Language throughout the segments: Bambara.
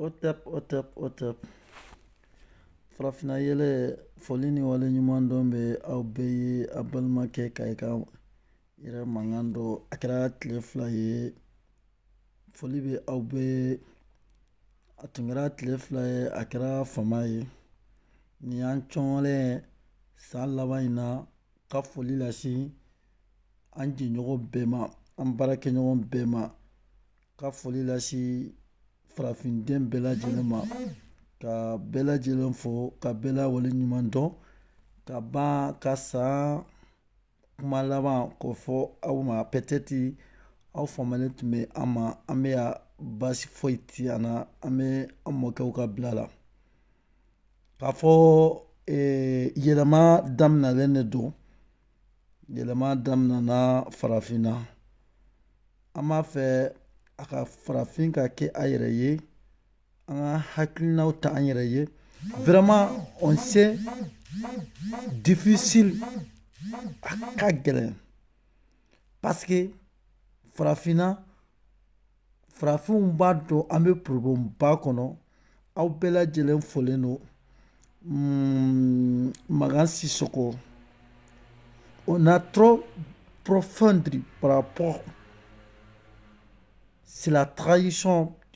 Hotep hotep hotep farafinna yɛlɛ foli ni wale ɲuman dɔn bɛ aw bɛɛ ye aw balimakɛ ka i ka yɛrɛ Makan don a kɛra tile fila ye Foli bɛ aw bɛɛ a tun kɛra tile fila ye a kɛra fama ye nin y'an cɔgɔlen san laban in na ka foli lase an jɛɲɔgɔn bɛɛ ma an baarakɛɲɔgɔn bɛɛ ma ka foli lase farafinden bɛɛ lajɛlen ma ka bɛɛ lajɛlen fo ka bɛɛ la wale ɲuman dɔn ka ban ka san kuma laban k'o fɔ aw ma peut-être aw faamalen tun bɛ an ma an bɛ yan baasi foyi ti an na an bɛ an mɔkɛw ka bila la k'a fɔ eh, yɛlɛma daminalen de don yɛlɛma daminana farafinna an b'a fɛ a ka farafin ka kɛ a yɛrɛ ye An ka hakilinaw ta an yɛrɛ ye vraiment o c'est difficile a ka gɛlɛn parce que farafinna farafinw b'a dɔn an bɛ problèmeba kɔnɔ aw bɛɛ lajɛlen folen don Makan Sisoko on a trop profondé par rapport c'est la tradition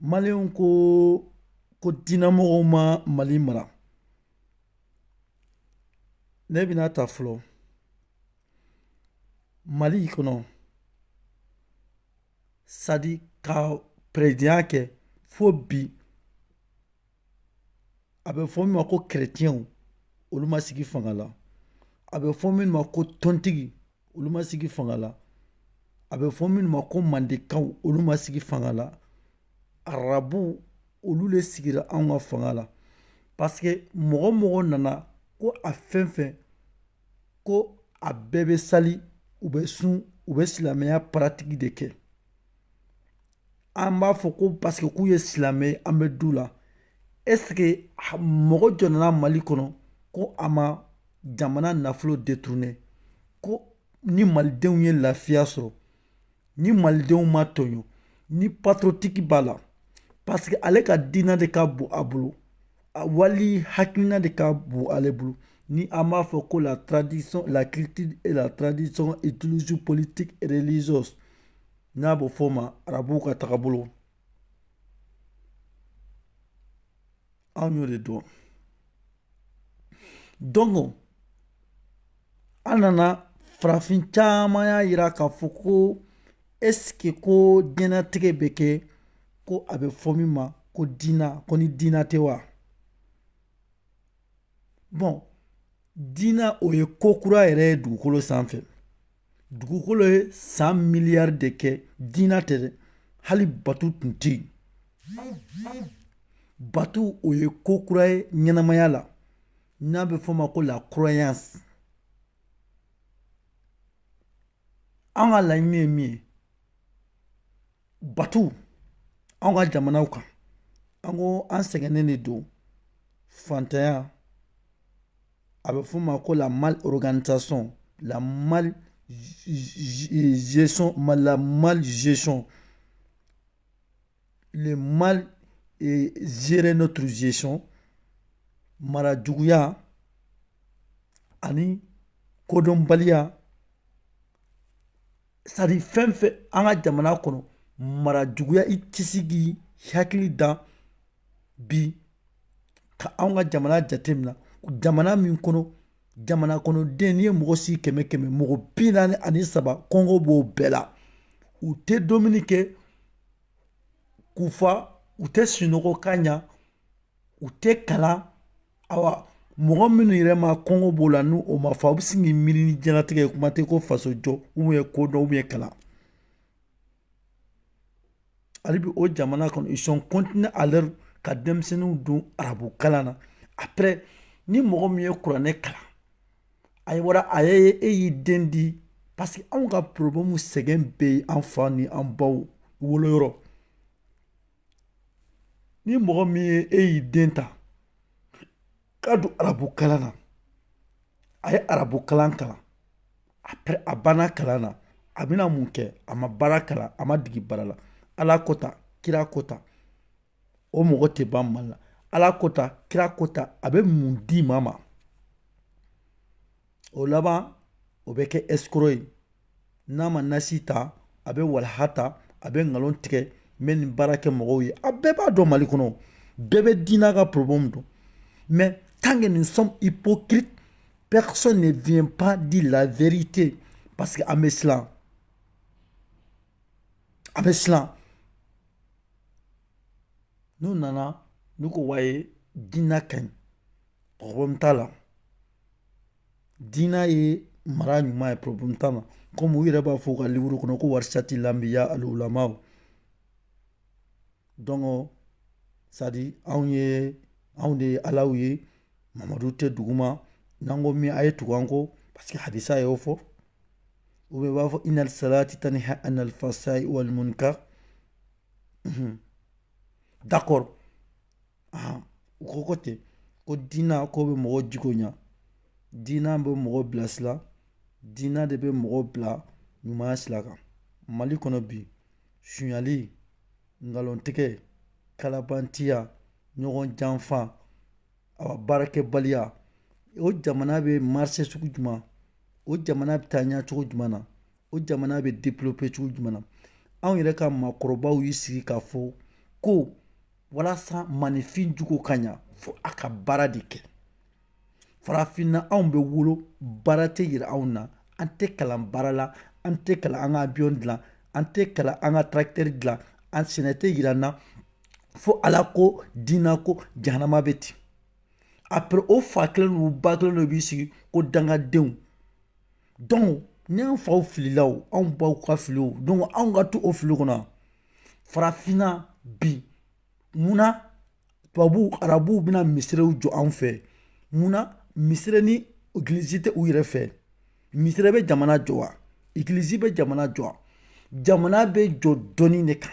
Malienw ko diinamɔgɔw ma mali mara ne bɛna ta fɔlɔ mali kɔnɔ sani ka peresidanya kɛ fo bi a bɛ fɔ min ma ko kerecɛnw olu ma sigi fanga la a bɛ fɔ min ma ko tɔntigi olu ma sigi fanga la a bɛ fɔ minnu ma ko mandekaw olu ma sigi fanga la arabuw olu le sigira anw ka fanga la parce que mɔgɔ o mɔgɔ nana ko a fɛn o fɛn ko a bɛɛ bɛ sali u bɛ sun u bɛ silamɛya pratique de kɛ an b'a fɔ ko parce que k'u ye silamɛ ye an bɛ d'u la est ce que ha- mɔgɔ jɔn nana mali kɔnɔ ko a ma jamana nafolo détourné ko ni malidenw ye lafiya sɔrɔ ni malidenw ma tɔɲɔ ni patriotique b'a la parce que ale ka diina de ka bon a bolo a wali hakilina de ka bon ale bolo ni an b'a fɔ ko la tradition la culture et la tradition idéologie politique et religieuse n'a bɛ f'o ma arabuw ka tagabolo anw y'o de dɔn donc an nana farafin caman y'a yira k'a fɔ ko est-ce que ko diɲɛnatigɛ bɛ kɛ ko a bɛ fɔ min ma ko diina ko ni diina tɛ wa bon diina o ye ko kura yɛrɛ ye dugukolo sanfɛ dugukolo ye san miliyari de kɛ diina tɛ dɛ hali batu tun tɛ yen batu o ye ko kura ye ɲɛnamaya la n'a bɛ f'o ma ko la croyance an ka laɲini ye min ye batu an ka jamanaw kan an ko an sɛgɛnnen de don fantanya a bɛ f'o ma ko la mali kanta sɔn la mali zeson malila mali zeson mali ziɛ n'o tun zeson mara juguyaya ani kodɔnbaliya c'est-à-dire fɛn fɛn an ka jamana kɔnɔ mara juguya i tɛ se k'i hakili da bi ka anw ka jamana jateminɛ jamana min kɔnɔ jamana kɔnɔden n'i ye mɔgɔ sigi kɛmɛ kɛmɛ mɔgɔ bi naani ani saba kɔngɔ b'o bɛɛ la u tɛ dumuni kɛ k'u fa u tɛ sunɔgɔ ka ɲa u tɛ kalan awa mɔgɔ minnu yɛrɛ ma kɔngɔ b'o la ni o ma fa u bɛ se k'i miiri ni diɲɛlatigɛ ye kuma tɛ ko faso jɔ ou bien ko dɔn ou bien kalan hali bi o jamana kɔnɔ ils sont continué à leur ka denmisɛnninw don arabu kalan na après ni mɔgɔ min ye kuranɛ kalan a ye wara a ye e y'i den di parce que anw ka problème sɛgɛn bɛ yen an fa ni an baw woloyɔrɔ ni mɔgɔ min ye e y'i den ta k'a don arabu kalan na a ye arabu kalan kalan après a banna kalan na a bɛna mun kɛ a ma baara kalan a ma degi baara la ala ko ta kira ko ta o mɔgɔ tɛ ban mali la ala ko ta kira ko ta a bɛ mun di maa ma o laban o bɛ kɛ escroc ye n'a ma nasi ta a bɛ walaha ta a bɛ nkalon tigɛ n bɛ nin baara kɛ mɔgɔw ye a bɛɛ b'a dɔn mali kɔnɔ bɛɛ bɛ diinɛ ka problème dɔn mais tant que nous sommes hypocrites personne ne vient pas dire la vérité parce que an bɛ siran an bɛ siran n'u nana n'u ko ouais diinɛ ka ɲi problème t'a la Diinɛ ye mara ɲuman ye problème t'a la comme u yɛrɛ b'a fɔ u ka livre kɔnɔ ko warisati lanbiya alulamaw donc c'est à dire anw ye anw de ye Alaw ye Mamadu tɛ duguma n'an ko min a ye tugu an kɔ parce que hadisa y'o fɔ ou bien u b'a fɔ inal salati taniha anal fasayi wal munkar d'accord u ko ko ten ko diinɛ ko bɛ mɔgɔ jogo ɲa diina bɛ mɔgɔ bilasira diina de bɛ mɔgɔ bila ɲumanya sira kan mali kɔnɔ bi sonyali nkalontigɛ kalabantiya ɲɔgɔn janfa a baarakɛbaliya o jamana bɛ marcher sugu jumɛn o jamana bɛ taa ɲɛ cogo jumɛn na o jamana bɛ développer cogo jumɛn na anw yɛrɛ ka maakɔrɔbaw y'i sigi k'a fɔ ko walasa maninfin jogo ka ɲa fo a ka baara de kɛ farafinna anw bɛ wolo baara tɛ yira anw na an tɛ kalan baara la an tɛ kalan an ka abiyon dilan an tɛ kalan an ka tarakitɛri dilan an sɛnɛ tɛ yira an na fo ala ko dina ko jahanama bɛ ten après o fa kelen n'u ba kelen dɔ b'i sigi ko dangadenw donc ni an faw filila o anw baw ka fili o donc anw ka to o fili kɔnɔ farafinna bi munna tubabuw arabuw bɛna misiriw jɔ an fɛ munna misiri ni egilizi tɛ u yɛrɛ fɛ misiri bɛ jamana jɔ wa egilizi bɛ jamana jɔ wa jamana bɛ jɔ dɔnni de kan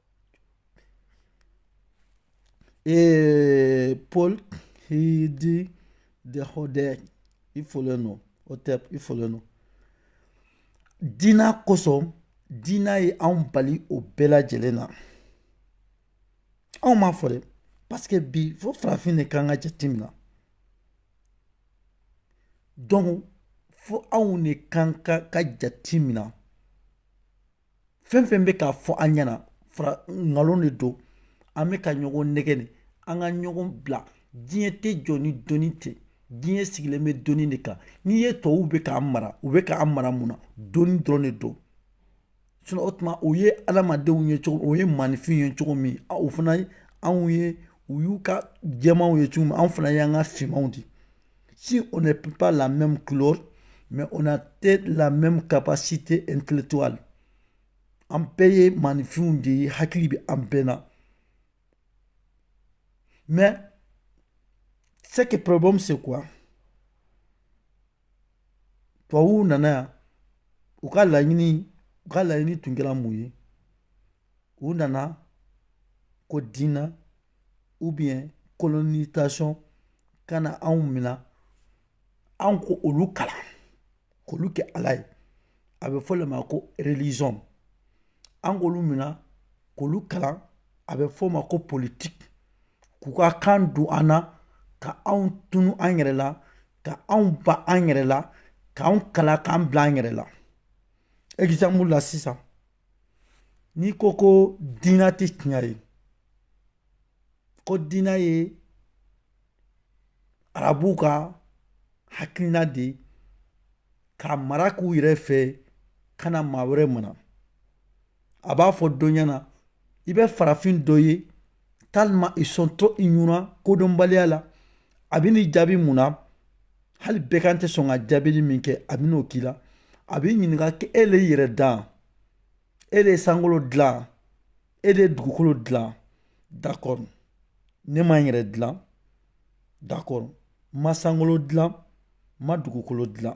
Ee Pɔl i di de Hotep i folen don Hotep i folen don. Dina kosɔn dina ye anw bali o bɛɛ lajɛlen na. Anw m'a fɔ dɛ parce que bi fo farafin de kan ka jatemina. Donc fo anw de kan ka jatemina. fɛn fɛn bɛ k'a fɔ an ɲɛna fara nkalon de don an bɛ ka ɲɔgɔn nɛgɛ de an ka ɲɔgɔn bila diɲɛ tɛ jɔ ni dɔnni tɛ diɲɛ sigilen bɛ dɔnni de kan n'i ye tɔw bɛ k'an mara u bɛ k'an mara mun na dɔnni dɔrɔn de don sinon o tuma o ye adamadenw ye cogo o ye maninfin ye cogo min o fana anw ye u y'u ka jɛmanw ye cogo min anw fana y'an ka finmanw de Si on n'est pas la même couleur, mais on a peut-être la même capacité intellectuelle. An bɛɛ ye maninfinw de ye hakili bɛ an bɛɛ na. Mais c'est que problème c'est quoi? Tubabuw nana yan u ka laɲini u ka laɲini tun kɛra mun ye? u nana ko diinɛ ou bien colonisation ka na anw minɛ anw k'olu kalan k'olu kɛ ala ye a bɛ fɔ le ma ko religion an k'olu minɛ k'olu kalan a bɛ f'o ma ko politique k'u ka kan don an na ka anw tunu an yɛrɛ la ka anw ban an yɛrɛ la k'an kalan k'an bila an yɛrɛ la exemple la sisan n'i ko ko diinɛ tɛ tiɲɛ ye ko diinɛ ye arabuw ka hakilina de ye ka mara k'u yɛrɛ fɛ ka na maa wɛrɛ mara a b'a fɔ dɔ ɲɛna i bɛ farafin dɔ ye tellement ils sont trop ignorants kodɔnbaliya la a bɛ n'i jaabi mun na hali bɛgan tɛ sɔn ka jaabili min kɛ a bɛn'o k'i la a b'i ɲininka k'e le yɛrɛ dan e le sankolo dilan e le dugukolo dilan d'accord ne ma n yɛrɛ dilan d'accord ma sankolo dilan ma dugukolo dilan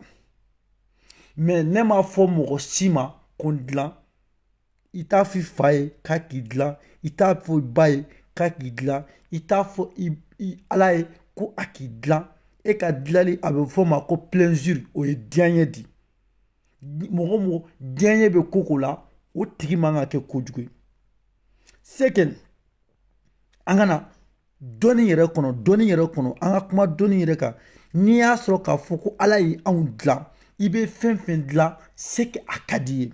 mais ne m'a fɔ mɔgɔ si ma ko n dilan i t'a fɔ i fa ye k'a k'i dilan i t'a fɔ i ba ye k'a k'i dilan i t'a fɔ ala ye ko a k'i dilan e ka dilali a bɛ fɔ o ma ko plaisir o ye diyanye di mɔgɔ o mɔgɔ diyanye bɛ ko ko la o tigi man ka kɛ kojugu ye c'est que an ka na dɔnni yɛrɛ kɔnɔ dɔnni yɛrɛ kɔnɔ an ka kuma dɔnni yɛrɛ kan n'i y'a sɔrɔ k'a fɔ ko ala ye anw dilan i bɛ fɛn fɛn dilan c'est que a ka d'i ye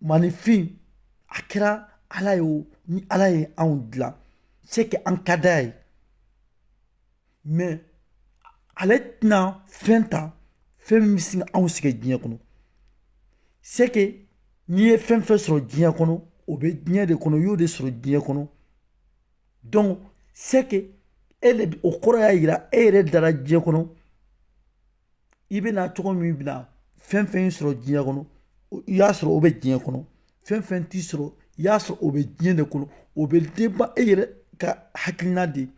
maaninfin a kɛra ala ye o ni ala ye anw dilan c'est que an ka d'a ye mais ale tɛna fɛn ta fɛn min bɛ se ka anw sɛgɛn diɲɛ kɔnɔ c'est que n'i ye fɛn fɛn sɔrɔ diɲɛ kɔnɔ o bɛ diɲɛ de kɔnɔ i y'o de sɔrɔ diɲɛ kɔnɔ donc c'est que e de o kɔrɔ y'a jira e yɛrɛ dara diɲɛ kɔnɔ i bɛ na cogo min bɛ na fɛn fɛn sɔrɔ diɲɛ kɔnɔ i y'a sɔrɔ o bɛ diɲɛ kɔnɔ fɛn fɛn t'i sɔrɔ i y'a sɔrɔ o bɛ diɲɛ de kɔnɔ o bɛ dépend e yɛrɛ ka hakilina de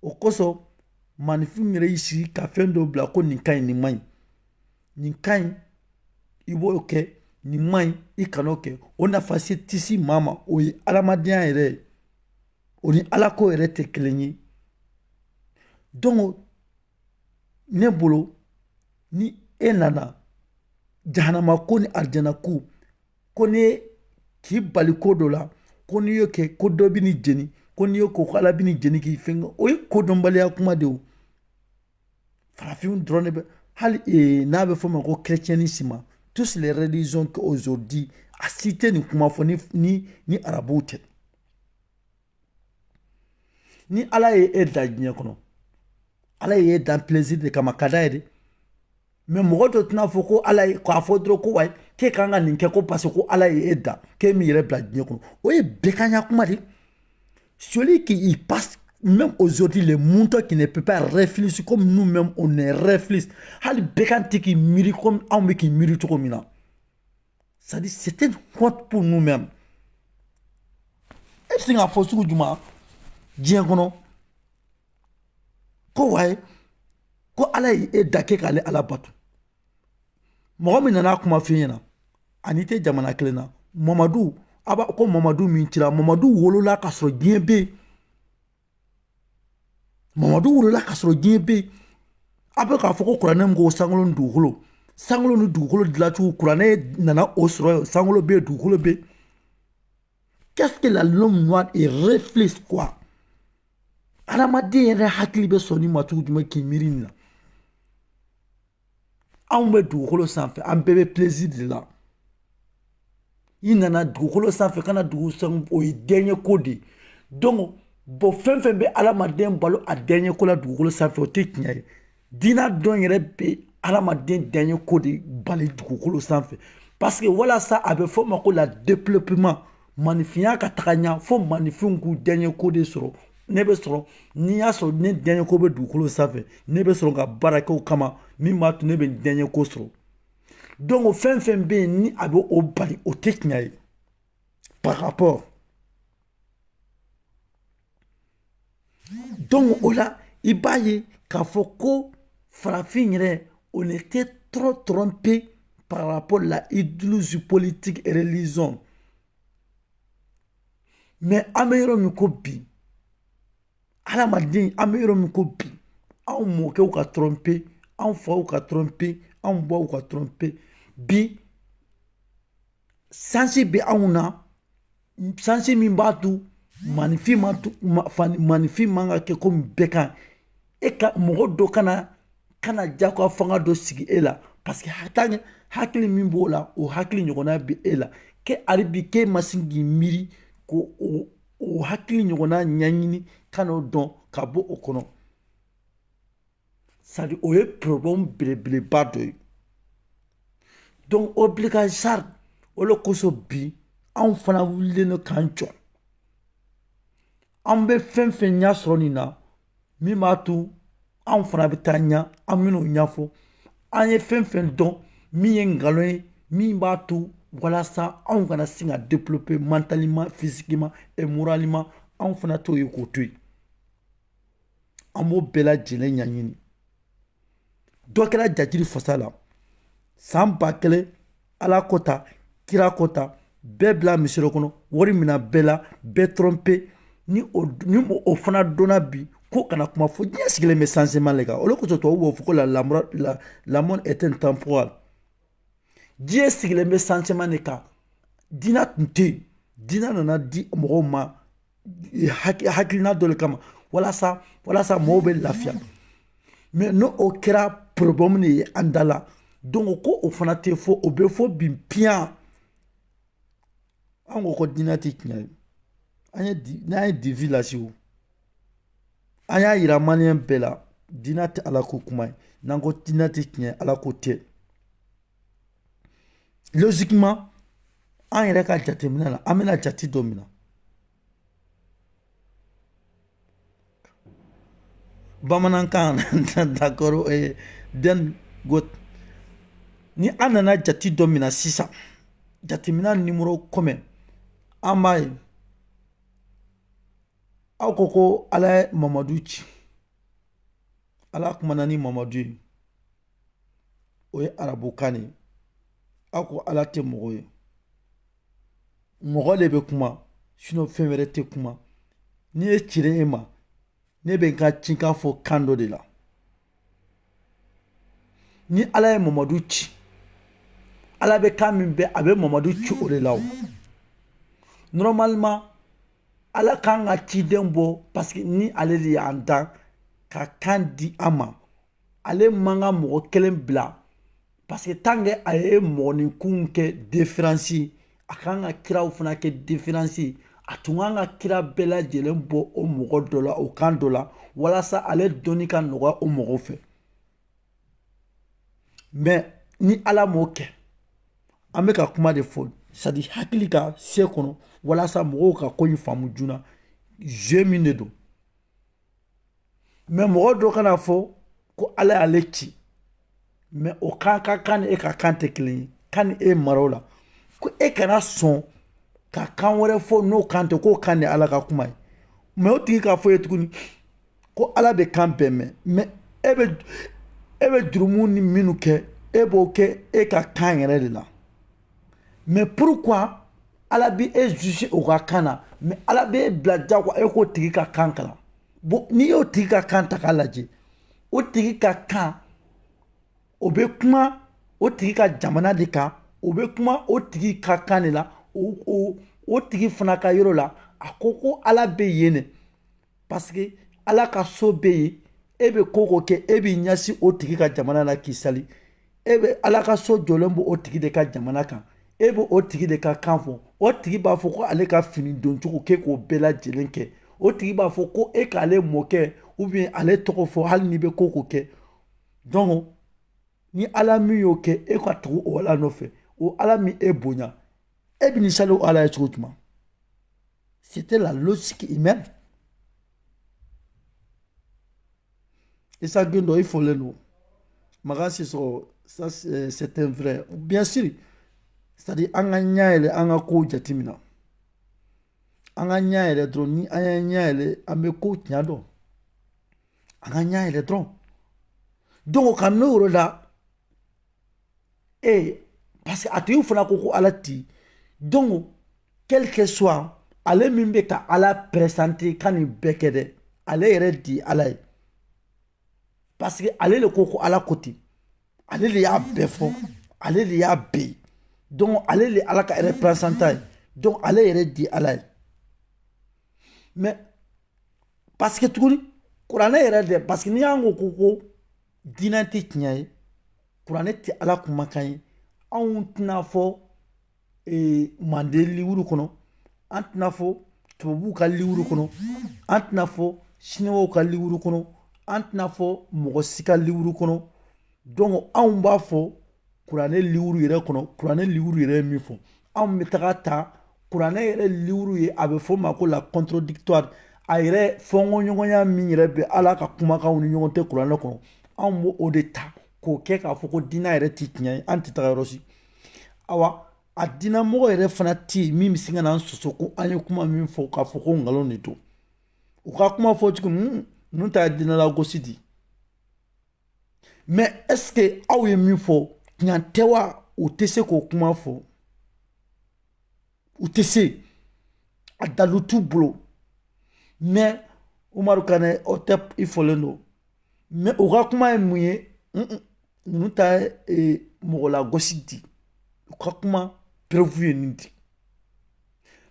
o kosɔn maaninfin yɛrɛ y'i sigi ka fɛn dɔ bila ko nin ka ɲi nin man ɲi nin ka ɲi i b'o kɛ nin man ɲi i kan'o kɛ o nafa si tɛ se maa ma o ye adamadenya yɛrɛ ye o ni alako yɛrɛ tɛ kelen ye donc ne bolo ni e nana jahanama ko ni arijana ko ko ne k'i bali ko dɔ la ko n'i y'o kɛ ko dɔ bɛn'i jeni ko n'i y'o kɛ ko ala bɛn'i jeni k'i fɛn o ye kodɔnbaliya kuma de ye o farafinw dɔrɔn de bɛ hali ee n'a bɛ f'o ma ko chrétiennisme tous les religions qu'aujourd'hui a si tɛ nin kuma fɔ ni ni ni arabuw tɛ ni ala ye e da diɲɛ kɔnɔ ala ye e dan plaisir de kama ka diyanye de mais mɔgɔ dɔ tɛna fɔ ko ala ye k'a fɔ dɔrɔn ko wayi k'e kan ka nin kɛ ko parce que ko ala ye e dan k'e min yɛrɛ bila diɲɛ kɔnɔ o ye bɛganya kuma de celui qui y passe même aujourd'hui les moutons qui ne peut pas réfléchir comme nous-mêmes on ne réfléchit hali bɛgan tɛ k'i miiri comme anw bɛ k'i miiri cogo min na c'est à dire c'est une honte pour nous mêmes e bɛ se k'a fɔ sugu jumɛn diɲɛ kɔnɔ ko wayi ko ala ye e da k'e k'ale ala bato mɔgɔ min nana a kuma f'i ɲɛna a n'i tɛ jamana kelen na mamadu a b'a ko mamadu min cira mamadu wolola k'a sɔrɔ diɲɛ bɛ yen mamadu wolola k'a sɔrɔ diɲɛ bɛ yen a bɛ k'a fɔ ko kuranɛ min ko sankolo ni dugukolo sankolo ni dugukolo dilancogo kuranɛ nana o sɔrɔ yen sankolo bɛ yen dugukolo bɛ yen qu'est-ce que la l'homme noir il réfléchit quoi adamaden yɛrɛ hakili bɛ sɔn nin ma cogo jumɛn k'i miiri nin na anw bɛ dugukolo sanfɛ an bɛɛ bɛ plaisir de la i nana dugukolo sanfɛ kana dugu san o ye diyanyeko de donc bon fɛn fɛn bɛ adamaden bali a diyanyeko la dugukolo sanfɛ o tɛ tiɲɛ ye diina dun yɛrɛ bɛ adamaden diyanyeko de bali dugukolo sanfɛ parce que walasa a bɛ fɔ o ma ko la développement maninfinya ka taga ɲɛ fo maninfinw k'u diyanyeko de sɔrɔ ne bɛ sɔrɔ n'i y'a sɔrɔ ne diyanyeko bɛ dugukolo sanfɛ ne bɛ sɔrɔ ka baara kɛ o kama min b'a to ne bɛ diyanyeko sɔrɔ donc o fɛn fɛn bɛ yen ni a bɛ o bali o tɛ tiɲɛ ye par rapport Donc o la i b'a ye k'a fɔ ko farafin yɛrɛ on était trop trompé par rapport la idéologie politique religion mais an bɛ yɔrɔ min ko bi adamaden an bɛ yɔrɔ min ko bi anw mɔkɛw ka trompé anw faw ka trompé anw baw ka trompé bi sansi bɛ anw na sansi min b'a to maninfin ma maninfin man ka kɛ komi bɛgan e ka mɔgɔ dɔ kana kana jagoya fanga dɔ sigi e la paseke hakili hakili min b'o la o hakili ɲɔgɔnna bɛ e la kɛ hali bi k'e ma se k'i miiri ko o o hakili ɲɔgɔnna ɲɛɲini ka n'o dɔn ka bɔ o kɔnɔ c'est à dire o ye problème belebeleba dɔ ye donc obligatoire o le kosɔn bi anw fana wulilen don k'an jɔ an bɛ fɛn fɛn ɲɛ sɔrɔ nin na min b'a to anw fana bɛ taa ɲɛ an bɛn'o ɲɛfɔ an ye fɛn fɛn dɔn min ye nkalon ye min b'a to walasa anw kana se ka développer mentalement physiquement et moralement anw fana t'o ye k'o to yen an b'o bɛɛ lajɛlen ɲɛɲini dɔ kɛra jatiri fasa la san ba kelen ala ko tan kira ko tan bɛɛ bila misiri kɔnɔ wari mina bɛɛ la bɛɛ tromper ni o fana donna bi ko kana kuma fɔ diɲɛ sigilen bɛ changement le kan o le kosɔn tubabu b'o fɔ ko la monde est intemporel diɲɛ sigilen bɛ changement de kan diinɛ tun tɛ yen diinɛ nana di mɔgɔw ma hakilina dɔ le kama walasa mɔɔw bɛ lafiya mais n'o o kɛra problème de ye an da la donc ko o fana tɛ fɔ o bɛ fɔ bin piyan an ko ko diinɛ tɛ tiɲɛ ye n'an ye divulgation an y'a yira maliyɛn bɛɛ la diinɛ tɛ ala ko kuma ye n'an ko diinɛ tɛ tiɲɛ ala ko tɛ logiquement an yɛrɛ ka jateminɛ la an bɛna jate dɔ mina bamanankan d'accord donc ni an nana jate dɔ mina sisan jateminɛ numéro kɔmi an b'a ye aw ko ko ala ye mamadu ci ala kumana ni mamadu ye o ye arabukan de ye aw ko ala tɛ mɔgɔ ye mɔgɔ de bɛ kuma sinon fɛn wɛrɛ tɛ kuma ni ne cira e ma ne bɛ n ka cikan fɔ kan dɔ de la ni ala ye mamadu ci ala bɛ kan min mɛn a bɛ mamadu ci o de la o normalement ala kan ka ciden bɔ parce que ni ale de y'an dan ka kan di an ma ale man ka mɔgɔ kelen bila parce que tant que a ye mɔgɔninkunw kɛ différence a kan ka kiraw fana kɛ différence a tun kan ka kira bɛɛ lajɛlen bɔ o mɔgɔ dɔ la o kan dɔ la walasa ale dɔnni ka nɔgɔya o mɔgɔw fɛ mais ni ala m'o kɛ an bɛ ka kuma de fɔ c'est à dire hakili ka se kɔnɔ walasa mɔgɔw ka ko in faamu joona jeu min de don mais mɔgɔ dɔ ka na a fɔ ko ala y'ale ci mais o kan ka kan ni e ka kan tɛ kelen ye ka na e mara o la ko e kana sɔn ka kan wɛrɛ fɔ n'o kan tɛ k'o kan de ala ka kuma ye mais o tigi k'a fɔ i ye tuguni ko ala bɛ kan bɛɛ mɛn mais e bɛ jurumu ni minnu kɛ e b'o kɛ e ka kan yɛrɛ de la mais pourquoi ala bɛ e juger o ka kan na mais ala bɛ e bila jagoya e k'o tigi ka kan kalan bon n'i y'o tigi ka kan ta k'a lajɛ o tigi ka kan o bɛ kuma o tigi ka jamana de kan o bɛ kuma o tigi ka kan de la o tigi fana ka yɔrɔ la a ko ko ala bɛ yen de parce que ala ka so bɛ yen e bɛ ko o ko kɛ e b'i ɲɛsin o tigi ka jamana la k'i sali e bɛ ala ka so jɔlen bɛ o tigi de ka jamana kan e bɛ o tigi de ka kan fɔ o tigi b'a fɔ ko ale ka fini doncogo k'e k'o bɛɛ lajɛlen kɛ o tigi b'a fɔ ko e k'ale mɔkɛ ou bien ale tɔgɔ fɔ hali n'i bɛ ko o ko kɛ donc ni ala min y'o kɛ e ka tugu o ala nɔfɛ o ala ma e bonya e bɛna sali o ala ye cogo jumɛn C'était la logique humaine. Et ça, il faut le nom. ça c'est un vrai. Bien sûr, c'est-à-dire, an ka ɲɛ yɛlɛ an ka kow jateminɛ an ka ɲɛ yɛlɛ dɔrɔn ni an y'an ɲɛ yɛlɛ an bɛ kow tiɲɛ dɔn an ka ɲɛ yɛlɛ dɔrɔn donc kamini o yɔrɔ la ee parce que a tigi fana ko ko ala ti donc quel que soit ale min bɛ ka ala présenter ka nin bɛɛ kɛ dɛ ale yɛrɛ de ala ye parce que ale de ko ko ala ko ten ale de y'a bɛɛ fɔ ale de y'a bɛɛ ye donc ale de ala ka représentant ye donc ale yɛrɛ de ala ye mais parce que tuguni kuranɛ yɛrɛ dɛ parce que ni an ko ko ko diinɛ tɛ tiɲɛ ye kuranɛ tɛ ala kumakan ye anw tɛn'a fɔ ee, manden liwuru kɔnɔ an tɛn'a fɔ tubabuw ka liwuru kɔnɔ an tɛn'a fɔ siniwaw ka liwuru kɔnɔ an tɛn'a fɔ mɔgɔ si ka liwuru kɔnɔ donc anw b'a fɔ kuranɛ liwuru yɛrɛ kɔnɔ kuranɛ liwuru yɛrɛ ye min fɔ anw bɛ taga ta kuranɛ yɛrɛ liwuru ye a bɛ fɔ a ma ko la contradictoire a yɛrɛ fɔnkɔɲɔgɔnya min yɛrɛ bɛ ala ka kumakanw ni ɲɔgɔn cɛ kuranɛ kɔnɔ anw b'o de ta k'o kɛ k'a fɔ ko diinɛ yɛrɛ tɛ tiɲɛ ye an tɛ taga yɔrɔ si awa a diinɛmɔgɔ yɛrɛ fana tɛ yen min bɛ se ka na an soso ko an ye kuma min fɔ k'a fɔ ko nkalon de don u ka kuma fɔ cogo ninnu ta ye diinɛlagosi de ye mais est-ce que aw ye min fɔ tiɲɛ tɛ wa u tɛ se k'o kuma fɔ u tɛ se a dalu t'u bolo mais umaru kanɛ o tɛ i fɔlen don mais u ka kuma ye mun ye ninnu ta ye e, mɔgɔlagosi di u ka kuma preuve ye nin di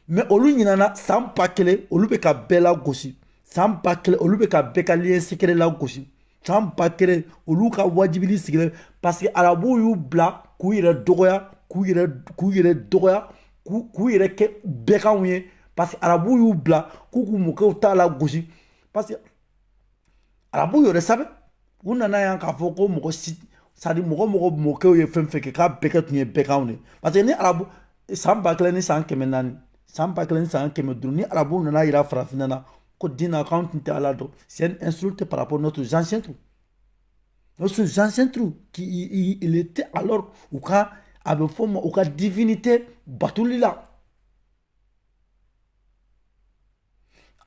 mais olu ɲinana san ba kelen olu bɛ ka bɛɛ lagosi san ba kelen olu bɛ ka bɛɛ ka lieu secret lagosi san ba kelen olu ka wajibili sigilen parce que arabuw y'u bila k'u yɛrɛ dɔgɔya k'u yɛrɛ k'u yɛrɛ dɔgɔya k'u yɛrɛ kɛ bɛganw ye parce que arabuw y'u bila k'u k'u mɔkɛw ta lagosi parce que arabu yɛrɛ sabu u nana yan k'a fɔ ko mɔgɔ si c'est-à-dire mɔgɔ mɔgɔ mɔkɛw ye fɛn fɛn kɛ k'a bɛɛ kɛ tun ye bɛganw de parce que ni arabu san ba kelen ni san kɛmɛ naani san ba kelen ni san kɛmɛ duuru ni arabu nana yira farafinna na ko dina k'an tun tɛ ala dɔn c'est une insulte par rapport notre ancêtre notre ancêtre qui il était alors u ka a bɛ fɔ ma u ka divinité batoli la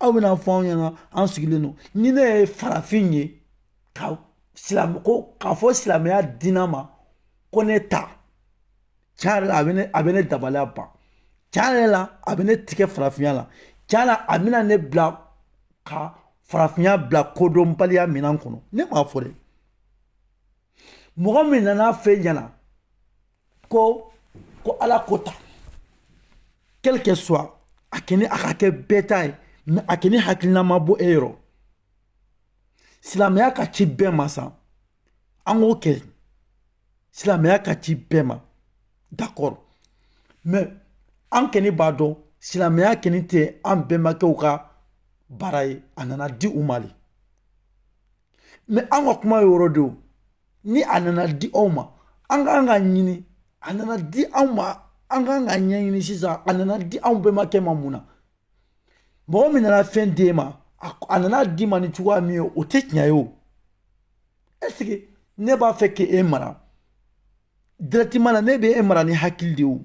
aw bɛna fɔ anw ɲɛna an sigilen don ni ne ye farafin ye ka silamɛ ko k'a fɔ silamɛya dina ma ko ne ta tiɲɛ yɛrɛ la a bɛ ne a bɛ ne dabaliya ban tiɲɛ yɛrɛ la a bɛ ne tigɛ farafinya la tiɲɛ la a bɛna ne bila ka farafinya bila kodɔnbaliya minɛn kɔnɔ ne m'a fɔ dɛ mɔgɔ min nana f'e ɲɛna ko ko ala ko ta quel que soit a kɛni a ka kɛ bɛɛ ta ye mais a kɛni hakilina ma bɔ e yɔrɔ silamɛya ka ci bɛɛ ma sa an k'o kɛ silamɛya ka ci bɛɛ ma d'accord mais an kɛni b'a dɔn silamɛya kɛni tɛ an bɛnbakɛw ka baara ye a nana di u ma de mais an ka kuma ye yɔrɔ de o ni a nana di aw ma an ka kan k'a ɲini a nana di anw ma an ka kan k'a ɲɛɲini sisan a nana di anw bɛnbakɛ ma mun na mɔgɔ min nana fɛn d'e ma a nana d'i ma ni cogoya min ye o tɛ tiɲɛ ye o est-ce que ne b'a fɛ k'e mara directement na ne bɛ e mara ni hakili de ye o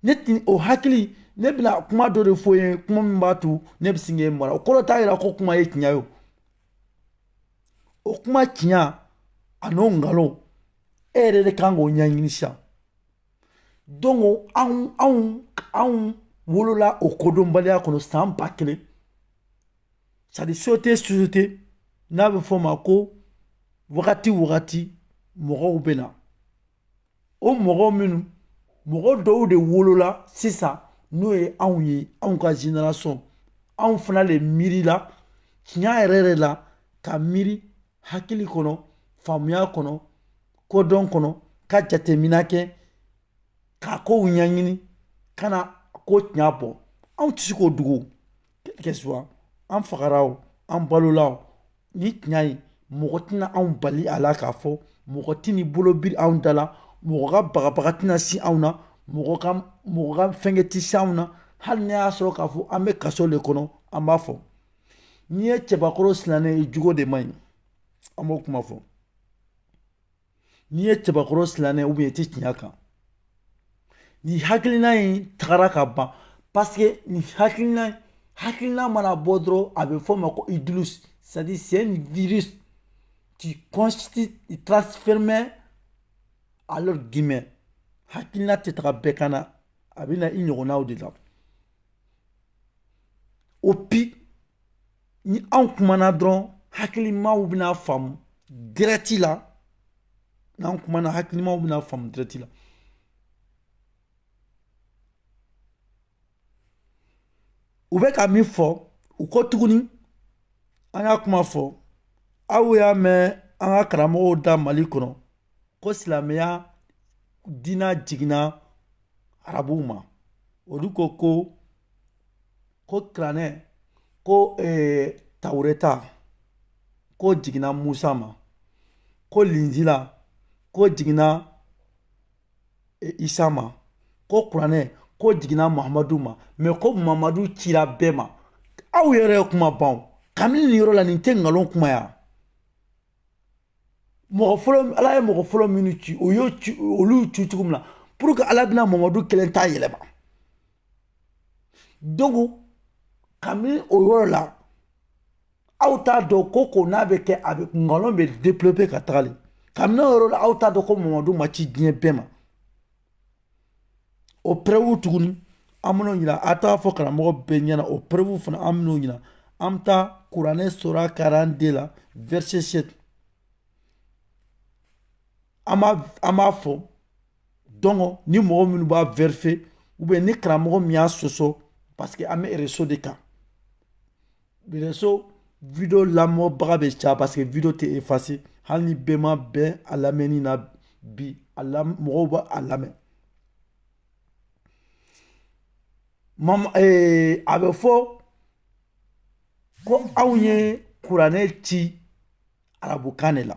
ne tun o hakili ne bɛna kuma dɔ de fɔ i ye kuma min b'a to ne bɛ se k'e mara o kɔrɔ t'a jira ko kuma ye tiɲɛ ye o kuma tiɲɛ a n'o nkalon e yɛrɛ de ka kan k'o ɲɛɲini sisan donc anw anw anw wolola o kodɔnbaliya kɔnɔ san ba kelen c'est-à-dire sote sote n'a bɛ f'o ma ko wagati wagati mɔgɔw bɛ na o mɔgɔ minnu mɔgɔ dɔw de wolola sisan n'o ye anw ye anw ka génération anw fana de miirila tiɲɛ yɛrɛ yɛrɛ la ka miiri hakili kɔnɔ faamuya kɔnɔ kodɔn kɔnɔ ka jateminɛ kɛ ka kow ɲɛɲini ka na ko tiɲɛ bɔ anw tɛ se k'o dogo quel que soit an fagara o an balola o ni tiɲɛ ye mɔgɔ tɛna anw bali a la k'a fɔ mɔgɔ tɛn'i bolo biri anw da la mɔgɔ ka bagabaga tɛna si anw na mɔgɔ ka mɔgɔ ka fɛnkɛ tɛ si anw na hali n'a y'a sɔrɔ k'a fɔ an bɛ kaso le kɔnɔ an b'a fɔ n'i ye cɛbakɔrɔ silannen ye jogo de man ɲi an b'o kuma fɔ n'i ye cɛbakɔrɔ silannen ou bien i tɛ tiɲɛ kan ni hakilina in tagara ka ban paseke nin hakilina hakilina mana bɔ dɔrɔn a bɛ fɔ o ma ko idéologie c'est-à-dire c'est un virus qui constitue transfèrement à l'être humain hakilina tɛ taga bɛɛ kan na a bɛ na i ɲɔgɔnnaw de la et puis ni anw kumana dɔrɔn hakilimaw bɛna faamu direct la n'an kumana hakilimaw bɛna faamu direct la u bɛ ka min fɔ u ko tuguni an y'a kuma fɔ aw y'a mɛn an ka karamɔgɔw da mali kɔnɔ ko silamɛya diina jiginna arabuw ma olu ko ko ko kuranɛ ko eh, tawureta ko jiginna musa ma ko linzila ko jiginna eh, isa ma ko kuranɛ ko jiginna mahamadu ma mais ko mahamadu cira bɛɛ ma aw yɛrɛ ye kuma ban kabini nin yɔrɔ la nin tɛ nkalon kuma ya mɔgɔ fɔlɔ ala ye mɔgɔ fɔlɔ minnu ci o y'o ci olu ci cogo min na pour que ala bɛna mamadu kelen ta yɛlɛma donc kabini o yɔrɔ la aw t'a dɔn ko ko n'a bɛ kɛ a bɛ nkalon bɛɛ développer ka taga le kabini o yɔrɔ la aw t'a dɔn ko mamadu ma ci diɲɛ bɛɛ ma o preuve tuguni an bɛn'o ɲini a t'a fɔ karamɔgɔ bɛɛ ɲɛna o preuve fana an bɛn'o ɲini an bɛ taa kuranɛ sura quarante-deux la verset sept an b'a fɔ donc ni mɔgɔ minnu b'a vérifier ou bien ni karamɔgɔ min y'a sɔsɔ parce que an bɛ réseau de kan réseau vidéo lamɛnbaga bɛ caya parce que vidéo tɛ effacé hali ni bɛɛ ma bɛn a lamɛnni na bi a lam mɔgɔw bɛ a lamɛn mam ee a bɛ fɔ ko anw ye kuranɛ ci arabukan de la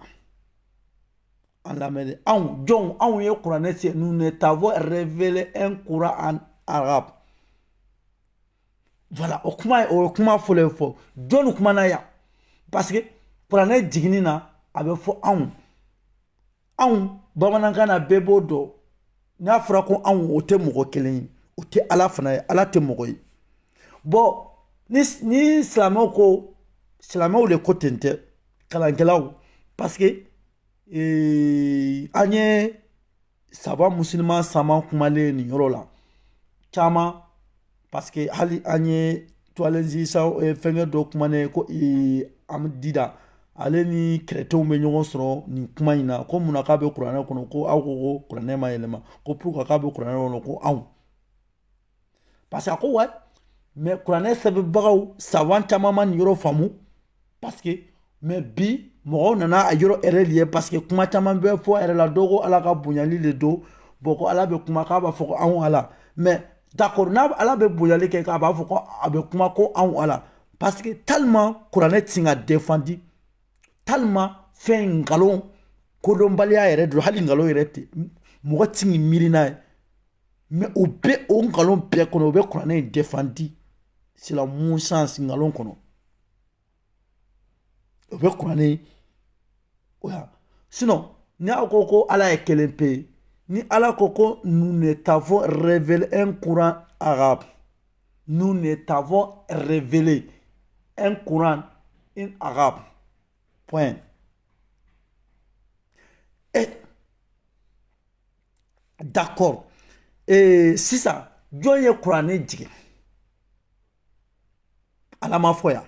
an lamɛnni anw jɔnw anw ye kuranɛ ci nous ne t'avons révélé un coran en arabe voilà o kuma ye o ye kuma fɔlɔ ye fɔ jɔnni kumana yan parce que kuranɛ jiginni na a bɛ fɔ anw anw bamanankan na bɛɛ b'o dɔn n'a fɔra ko anw o tɛ mɔgɔ kelen ye o tɛ ala fana ye ala tɛ mɔgɔ ye bon ni ni silamɛw ko silamɛw de ko ten tɛ kalankɛlaw parce que ee, an ye savant musulman caman kumalen nin yɔrɔ la caman parce que hali an ye tuwalenzi eh, fɛngɛ dɔ kumanen ko eh, ahmed deedat ale ni chrétienw bɛ ɲɔgɔn sɔrɔ nin kuma in na ko mun na k'a bɛ kuranɛ kɔnɔ ko aw ko ko kuranɛ ma yɛlɛma ko pourquoi k'a bɛ kuranɛ kɔnɔ ko anw parce que a ko ouais mais kuranɛ sɛbɛnbagaw savant caman ma nin yɔrɔ faamu parce que mais bi mɔgɔw nana a yɔrɔ yɛrɛ de ye parce que kuma caman bɛ fɔ yɛrɛ la dɔw ko ala ka bonyali de don bon ko ala bɛ kuma k'a b'a fɔ ko anw ala mais d'accord n'a ala bɛ bonyali kɛ k'a b'a fɔ ko a bɛ kuma ko anw ala parce que tellement kuranɛ tɛ se ka defandi tellement fɛn nkalon kodɔnbaliya yɛrɛ don hali nkalon yɛrɛ tɛ mɔgɔ t'i miiri n'a ye mais o bɛ o nkalon bɛɛ kɔnɔ o bɛ kuranɛ in defandi silamɛw sa nkalon kɔnɔ o bɛ kuranɛ o ya sinon ni aw ko ko ala ye kelen pe ye ni ala ko ko nous ne t'avons révélé un coran arabe nous ne t'avons révélé un coran en arabe point et d'accord ee sisan jɔn ye kuranɛ jigin ala ma fɔ yan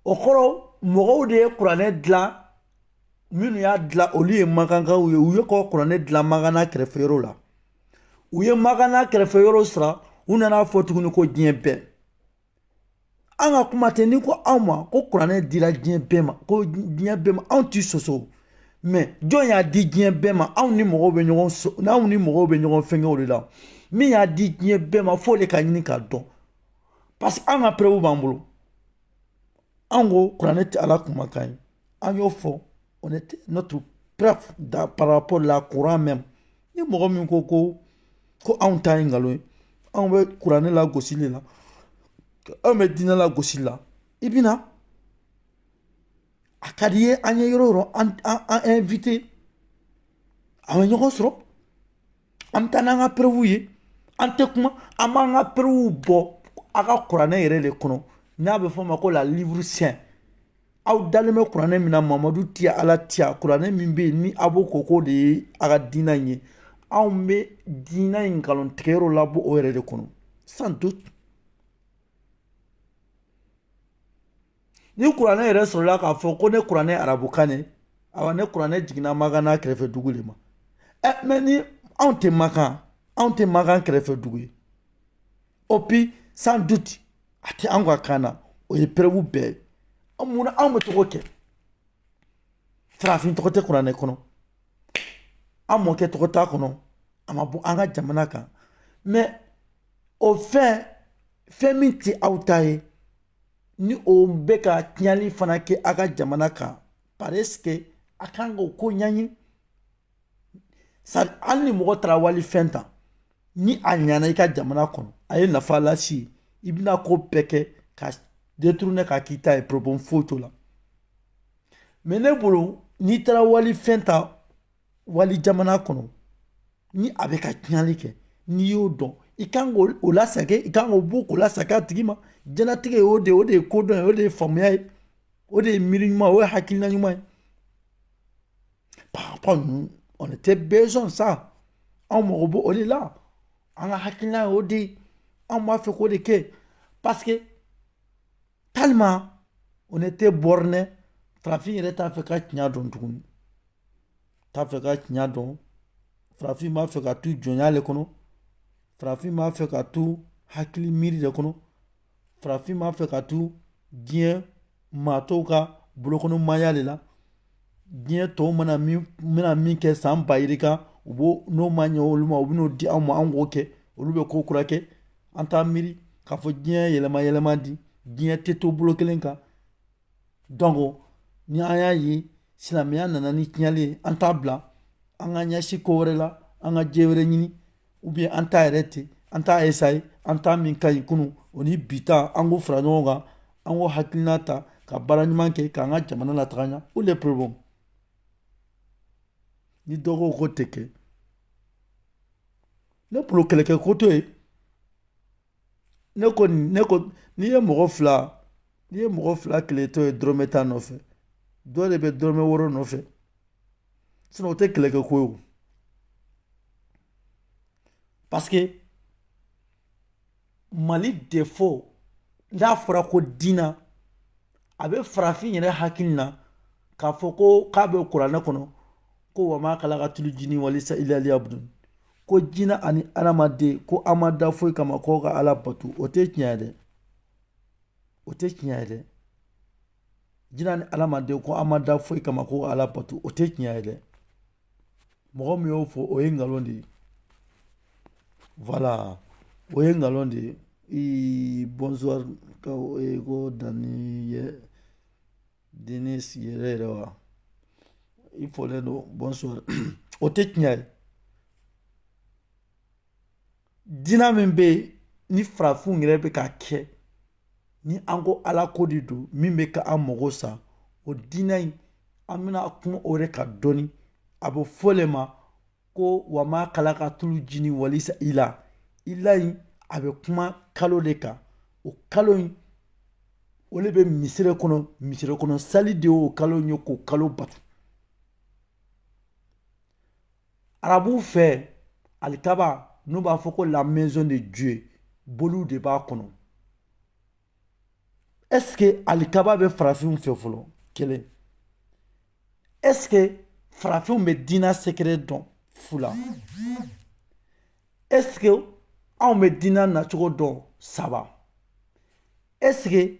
o kɔrɔ mɔgɔw de ye kuranɛ dilan minnu y'a dilan olu ye makankaw ye u ye kɔ kuranɛ dilan makan n'a kɛrɛfɛ yɔrɔ la u ye makan n'a kɛrɛfɛ yɔrɔ sɔrɔ u nana a fɔ tuguni ko diɲɛ bɛɛ an ka kuma tɛ n'i ko anw ma ko kuranɛ dira diɲɛ bɛɛ ma ko diɲɛ bɛɛ ma anw tɛ sɔsɔ mais jɔn y'a di diɲɛ bɛɛ ma anw ni mɔgɔw bɛ ɲɔgɔn so n'anw ni mɔgɔw bɛ ɲɔgɔn fɛngɛ o de la min y'a di diɲɛ bɛɛ ma f'o de ka ɲini k'a dɔn parce que an ka preuve b'an bolo an ko kuranɛ tɛ ala kumakan ye an y'o fɔ on a notre preuve par rapport la coran même ni mɔgɔ min ko ko ko anw ta ye nkalon ye anw bɛ kuranɛ lagosi de la anw bɛ diinɛ lagosili la i bɛ na a ka di ye an ye yɔrɔ o yɔrɔ an an invite an bɛ ɲɔgɔn sɔrɔ an bɛ taa n'an ka preuve ye an tɛ kuma an b'an ka preuve bɔ a ka kuranɛ yɛrɛ de kɔnɔ n'a bɛ fɔ o ma ko la livre saint aw dalen bɛ kuranɛ min na mamadu tiya ala tiya kuranɛ min bɛ yen ni a b'o ko k'o de ye a ka diinɛ in ye anw bɛ diinɛ in nkalontigɛyɔrɔ labɔ o yɛrɛ de kɔnɔ sans doute ni kuranɛ yɛrɛ sɔrɔla k'a fɔ ko ne kuranɛ arabukan ne awa ne kuranɛ jiginna makan n'a kɛrɛfɛ dugu de ma ɛ mais ni anw tɛ makan anw tɛ makan kɛrɛfɛ dugu ye et puis sans doute a tɛ an ka kan na o ye preuve bɛɛ ye munna anw bɛ to k'o kɛ farafin tɔgɔ tɛ kuranɛ kɔnɔ an mɔkɛ tɔgɔ t'a kɔnɔ a ma bɔ an ka jamana kan mais o fɛn fɛn min tɛ aw ta ye ni o bɛ ka tiɲɛli fana kɛ a ka jamana kan parce que a kan k'o ko ɲɛɲini hali ni mɔgɔ taara wali fɛn ta ni a ɲana i ka jamana kɔnɔ a ye nafa lase i bɛna ko bɛɛ kɛ k'a détourner k'a k'i ta ye problème foyi t'o la mais ne bolo n'i taara wali fɛn ta wali jamana kɔnɔ ni a bɛ ka tiɲali kɛ n'i y'o dɔn i kan k'o lasage i kan k'o bɔ k'o lasage a tigi ma jɛnatigɛ ye o de o de ye kodɔn ye o de ye faamuya ye o de ye miiri ɲuman o ye hakilina ɲuman ye par rapport nous on était besoin de ça anw mago b'o de la an ka hakilina y'o de ye anw b'a fɛ k'o de kɛ parce que tellement on était borné farafin yɛrɛ t'a fɛ ka tiɲɛ dɔn tuguni t'a fɛ ka tiɲɛ dɔn farafin b'a fɛ ka to jɔnya de kɔnɔ farafin b'a fɛ ka to hakili miiri de kɔnɔ farafin b'a fɛ ka to diɲɛ maa tɔw ka bolokɔnɔmaya de la diɲɛ tɔw mana min kɛ san ba yirika u b'o n'o ma ɲɛ olu ma u bɛn'o di anw ma an k'o kɛ olu bɛ ko kura kɛ an t'a miiri k'a fɔ diɲɛ yɛlɛma yɛlɛma di diɲɛ tɛ to bolo kelen kan donc ni an y'a ye silamɛya nana ni tiɲɛli ye an t'a bila an ka ɲɛsin ko wɛrɛ la an ka diɲɛ wɛrɛ ɲini ou bien an ta yɛrɛ ten an t'a essayer an ta min ka ɲi kunun o ni bi ta an k'o fara ɲɔgɔn kan an k'o hakilina ta ka baara ɲuman kɛ k'an ka jamana lataga ɲa où est le problème ni dɔ ko k'o tɛ kɛ ne bolo kɛlɛkɛko t'o ye ne ko ne ko n'i ye mɔgɔ fila n'i ye mɔgɔ fila kɛlɛtɔ ye dɔrɔmɛ tan nɔfɛ dɔ de bɛ dɔrɔmɛ wɔɔrɔ nɔfɛ sinon o tɛ kɛlɛkɛ ko ye o parce que mali défaut n'a fɔra ko diina a bɛ farafin yɛrɛ hakili na k'a fɔ ko k'a bɛ kuranɛ kɔnɔ ko wa ma khalaqatul jinni wal insa illa liya'budun ko jinɛ ani adamaden ko an ma da foyi kama k'o ka ala bato o tɛ tiɲɛ ye dɛ o tɛ tiɲɛ ye dɛ jinɛ ni adamaden ko an ma da foyi kama k'o ka ala bato o tɛ tiɲɛ ye dɛ mɔgɔ min y'o fɔ o ye nkalon de ye voilà o ye nkalon de ye ii bonsoir ko Dani Denis yɛrɛ yɛrɛ wa i fɔlen don bonsoir o tɛ tiɲɛ ye diina min bɛ yen ni farafinw yɛrɛ bɛ ka kɛ ni an ko ala ko de don min bɛ ka an mago sa o diina in an bɛna kuma o de kan dɔɔni a bɛ fɔ de ma ko wa ma khalaqatul jinni wal insa illa illa in a bɛ kuma kalo de kan o kalo in o de bɛ misiri kɔnɔ misiri kɔnɔ sali de y'o kalo in ye k'o kalo bato arabuw fɛ alikaba n'u b'a fɔ ko la maison de Dieu boliw de b'a kɔnɔ est ce que alikaba bɛ farafinw fɛ fɔlɔ kelen est ce que farafinw bɛ diina secret dɔn fila est ce que anw bɛ diina nacogo dɔn saba est ce que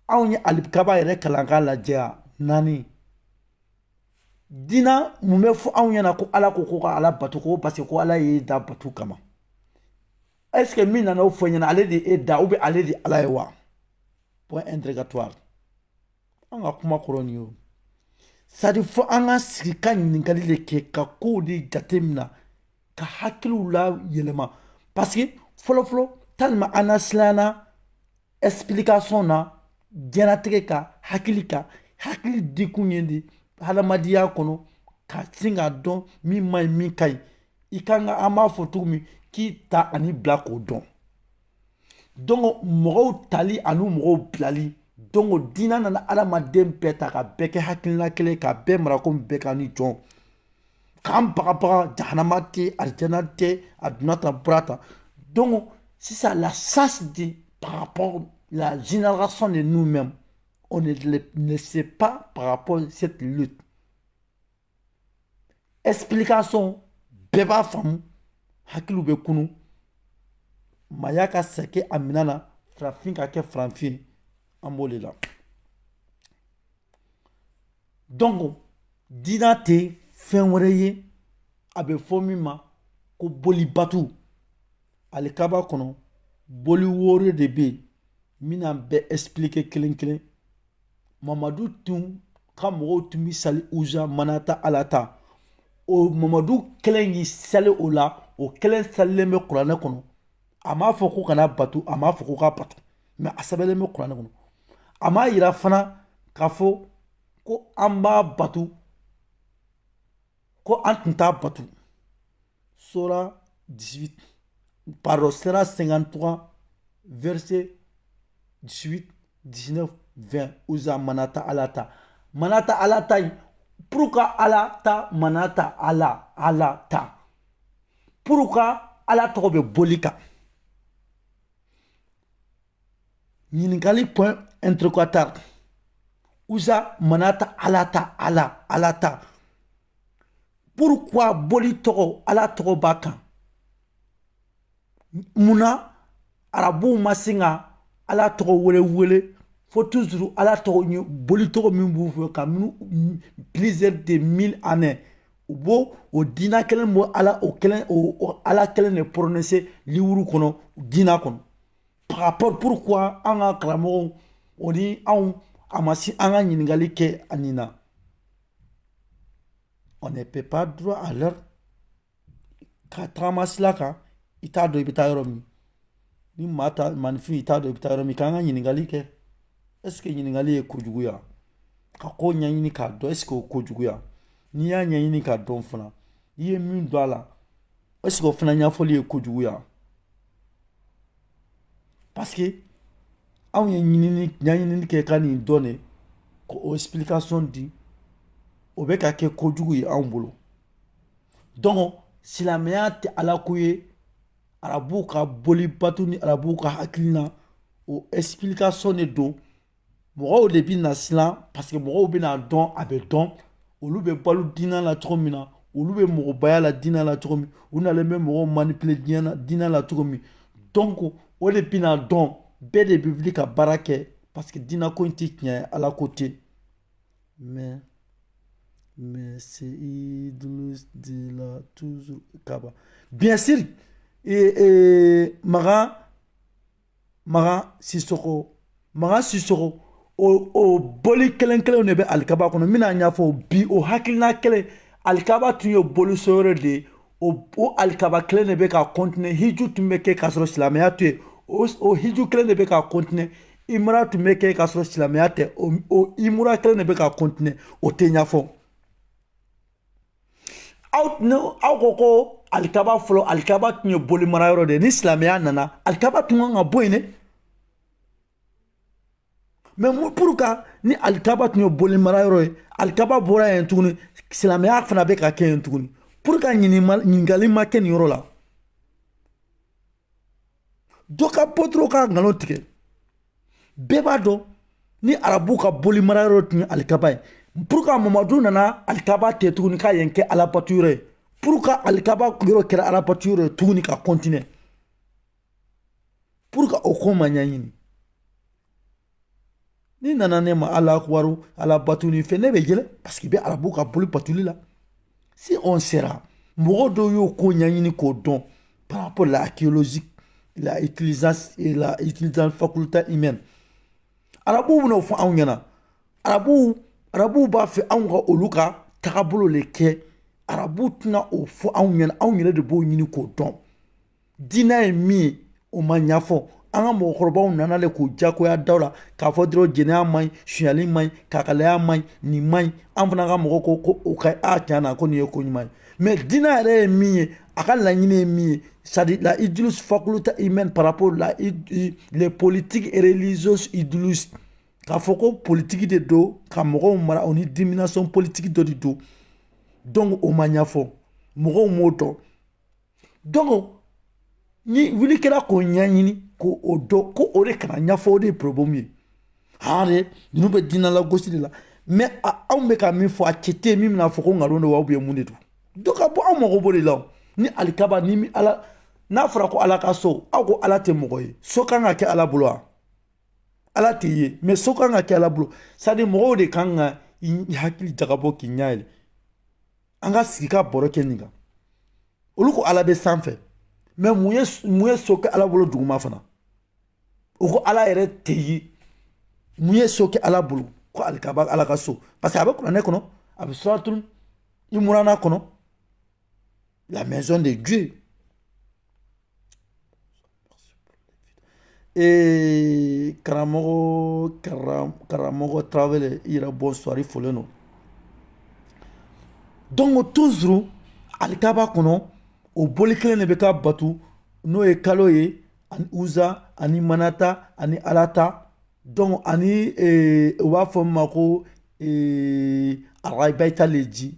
anw ye alikaba yɛrɛ kalan k'a lajɛya naani diina mun bɛ fɔ anw ɲɛna ko ala ko ko ka ala bato ko parce que ko ala y'i da bato kama est ce que min nana o fɔ e ɲɛna ale de e da ou bien ale de ala ye wa point interrogatoire an ka kuma kɔrɔ nin y'o c'est à dire fo an ka sigi ka ɲininkali de kɛ ka kow de jate mina ka hakiliw la yɛlɛma parce que fɔlɔfɔlɔ tellement an nasilanna explication na diɲɛlatigɛ ka hakili ka hakili di kun ye de hadamadenya kɔnɔ ka sin k'a dɔn min man ɲi min ka ɲi i ka kan ka an b'a fɔ cogo min k'i ta ani bila k'o dɔn donc mɔgɔw tali ani mɔgɔw bilali donc diinɛ nana adamaden bɛɛ ta ka bɛɛ kɛ hakilina kelen ka bɛɛ mara komi bɛɛ ka ni jɔn k'an bagabaga jahanama tɛ alijana tɛ a donna tan bɔra tan donc sisan la chance de par rapport la génération de nous-mêmes on ne sait pas par rapport à cette lutte explication bɛɛ b'a faamu hakiliw bɛ kunun maaya ka segin a minɛn na farafin ka kɛ farafin an b'o de la donc diinɛ tɛ fɛn wɛrɛ ye a bɛ fɔ min ma ko bolibatu alikaba kɔnɔ boli wɔɔrɔ de bɛ yen min n'a bɛɛ expliquer kelen kelen mamadu tun ka mɔgɔw tun bɛ seli uza manata alata o mamadu kelen y'i seli o la o kelen selilen bɛ kuranɛ kɔnɔ a m'a fɔ ko kana bato a m'a fɔ ko ka bato mais a sɛbɛnlen bɛ kuranɛ kɔnɔ a m'a yira fana k'a fɔ ko an b'a bato ko an tun t'a bato sura 18 pardon sura 53 verset 18 19 20 uza manata alata manata alata in pourquoi alata manata ala alata pourquoi ala tɔgɔ bɛ boli kan ɲininkali point interrogatoire uza manata alata ala alata pourquoi boli tɔgɔ ala tɔgɔ b'a kan mun na arabuw ma se ka ala tɔgɔ wele wele fo toujours ala tɔgɔ ye boli tɔgɔ min b'u fɛ kabini plusieurs de mille années u b'o o diina kelen bɔ ala o kelen o ala kelen de prononcer liwuru kɔnɔ diina kɔnɔ par rapport pourquoi an ka karamɔgɔw o ni anw a ma se an ka ɲininkali kɛ a nin na on ne peut pas droit à l'erreur ka tagama sira kan i t'a dɔn i bɛ taa yɔrɔ min ni maa ta manifin i t'a dɔn i bɛ taa yɔrɔ min k'an ka ɲininkali kɛ est-ce que ɲininkali ye ko juguya ka ko ɲɛɲini k'a dɔn est-ce que o ko juguya n'i y'a ɲɛɲini k'a dɔn fana i ye min don a la est-ce que o fana ɲɛfɔli ye ko juguya parce que anw ye ɲɛɲinini kɛ ka nin dɔn de k'o explication di o bɛ ka kɛ kojugu ye anw bolo donc silamɛya tɛ ala ko ye arabuw ka boli bato ni arabuw ka hakilina o explication de don mɔgɔw de bɛna siran parce que mɔgɔw bɛna dɔn a bɛ dɔn olu bɛ balo diinɛ la cogo min na olu bɛ mɔgɔbaya la diinɛ la cogo min u nalen bɛ mɔgɔw manipule diinɛ la cogo min donc o de bɛna dɔn bɛɛ de bɛ wuli ka baara kɛ parce que diinɛ ko in tɛ tiɲɛ ye ala ko tɛ Mais mais c'est i de la tu kaba bien sûr makan makan siso makan sisɔkɔ o boli kelen kelen de bɛ alikaba kɔnɔ bɛna n'a ɲɛfɔ bi o hakilina kelen alikaba tun ye bolisɔnyɔrɔ de ye o o alikaba kelen de bɛ ka kɔntine hiju tun bɛ kɛ k'a sɔrɔ silamɛya tɛ yen o o hiju kelen de bɛ ka kɔntine imura tun bɛ kɛ k'a sɔrɔ silamɛya tɛ o o imura kelen de bɛ ka kɔntine o tɛ ɲɛfɔ aw ne aw ko ko alikaba fɔlɔ alikaba tun ye bolimarayɔrɔ de ye ni silamɛya nana alikaba tun kan ka bɔ yen dɛ mais pourquoi ni alikaba tun ye boli mara yɔrɔ ye alikaba bɔra yen tuguni silamɛya fana bɛ ka kɛ yen tuguni pourquoi ɲininkali ma kɛ nin yɔrɔ la dɔ ka bɔ dɔrɔn ka nkalon tigɛ bɛɛ b'a dɔn ni arabu ka boli mara yɔrɔ tun ye alikaba ye pourquoi mamadu nana alikaba ta tuguni ka yen kɛ alabato yɔrɔ ye pourquoi alikaba yɔrɔ kɛra alabato yɔrɔ ye tuguni ka kɔntine pourquoi o ko ma ɲɛɲini n'i nana ne ma ala akubaru ala batuli fɛ ne bɛ yɛlɛ parce que i bɛ arabu ka boli batuli la si on sera mɔgɔ dɔw y'o ko ɲɛɲini k'o dɔn par rapport la archéologie la utilisation et la utilisation faculté humaine arabuw bɛna o fɔ anw ɲɛna arabuw arabuw b'a fɛ anw ka olu ka tagabolo de kɛ arabuw tɛna o fɔ anw ɲɛna anw yɛrɛ de b'o ɲini k'o dɔn Diinɛ ye min ye o ma ɲɛfɔ an ka mɔgɔkɔrɔbaw nana de k'o jagoya da la k'a fɔ dɔrɔn jɛnɛya man ɲi sonyali man ɲi kakalaya man ɲi nin man ɲi an fana ka mɔgɔ ko ko o ka tiɲɛ na ko nin ye ko ɲuman ye mais diinɛ yɛrɛ ye min ye a ka laɲini ye min ye c'est-à-dire la idéologie faculté humaine par rapport la politique et religieuse idéologie k'a fɔ ko politigi de don ka mɔgɔw mara o ni domination politique dɔ de don donc o ma ɲɛfɔ mɔgɔw m'o dɔn donc ni wuli kɛra k'o ɲɛɲini k'o dɔn ko o de kana ɲɛfɔ o de ye problème ye han de ninnu bɛ diinɛ lagosi de la mais anw bɛ ka min fɔ a cɛ tɛ min bɛna fɔ ko nkalon don wa ou bien mun de don dɔ ka bɔ anw mago b'o de la o ni alikaba ni ala n'a fɔra ko ala ka so aw ko ala tɛ mɔgɔ ye so kan ka kɛ ala bolo wa ala tɛ ye mais so kan ka kɛ ala bolo c'est-à-dire mɔgɔw de kan ka i hakili jagabɔ k'i ɲɛ yɛlɛ an ka sigi ka baro kɛ nin kan olu ko ala bɛ sanfɛ mais mun ye mun ye so kɛ ala bolo duguma fana u ko ala yɛrɛ tɛ ye mun ye so kɛ ala bolo ko alikaba ala ka so parce que a bɛ kuranɛ kɔnɔ a bɛ suratul imurana kɔnɔ la maison de dieu Ee karamɔgɔ karamɔgɔ tarawele i yɛrɛ bonsoir i folen don donc toujours alikaba kɔnɔ o boli kelen de bɛ ka bato n'o ye kalo ye ani uza ani manata ani alata donc ani u b'a fɔ min ma ko arabayita le ji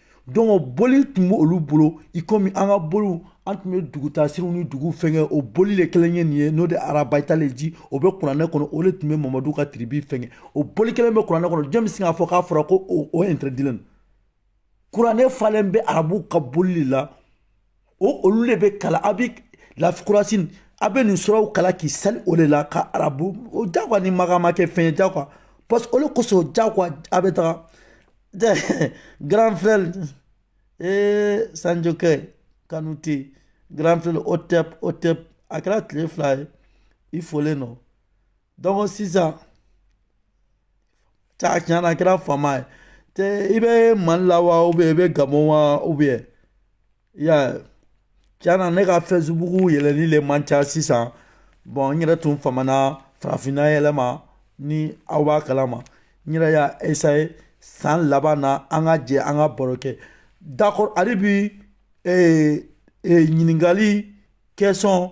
donc boli tun bɛ olu bolo i komi an ka boliw an tun bɛ dugu dasiriw ni dugu fɛnkɛ o boli de kelen ye nin ye n'o de arabayita le ji o bɛ kuranɛ kɔnɔ o de tun bɛ mamadu ka tribu fɛnkɛ o boli kelen bɛ kuranɛ kɔnɔ jɔn bɛ se k'a fɔ k'a fɔra ko o interdit kuranɛ falen bɛ arabu ka boli la o olu de bɛ kalan a bɛ lafi kurasini a bɛ nin suraw kalan k'i sali o de la ka arabu o jagoya ni makan ma kɛ fɛn ye jagoya parce que olu kosɔn jagoya a bɛ taga grand frère ee sanjokɛ kanute grand frère otep otep a kɛra tile fila ye i folen don donc sisan Ca tiɲɛ na a kɛra fama ye tɛ i bɛ mali la wa i bɛ gabɔn wa ou bien i y'a ye tiɲɛ na ne ka Facebook yɛlɛli de man ca sisan bon n yɛrɛ tun famana farafinna yɛlɛma ni aw b'a kalama n yɛrɛ y'a essayer san laban na an ka jɛ an ka baro kɛ d'accord hali bi ɲininkali question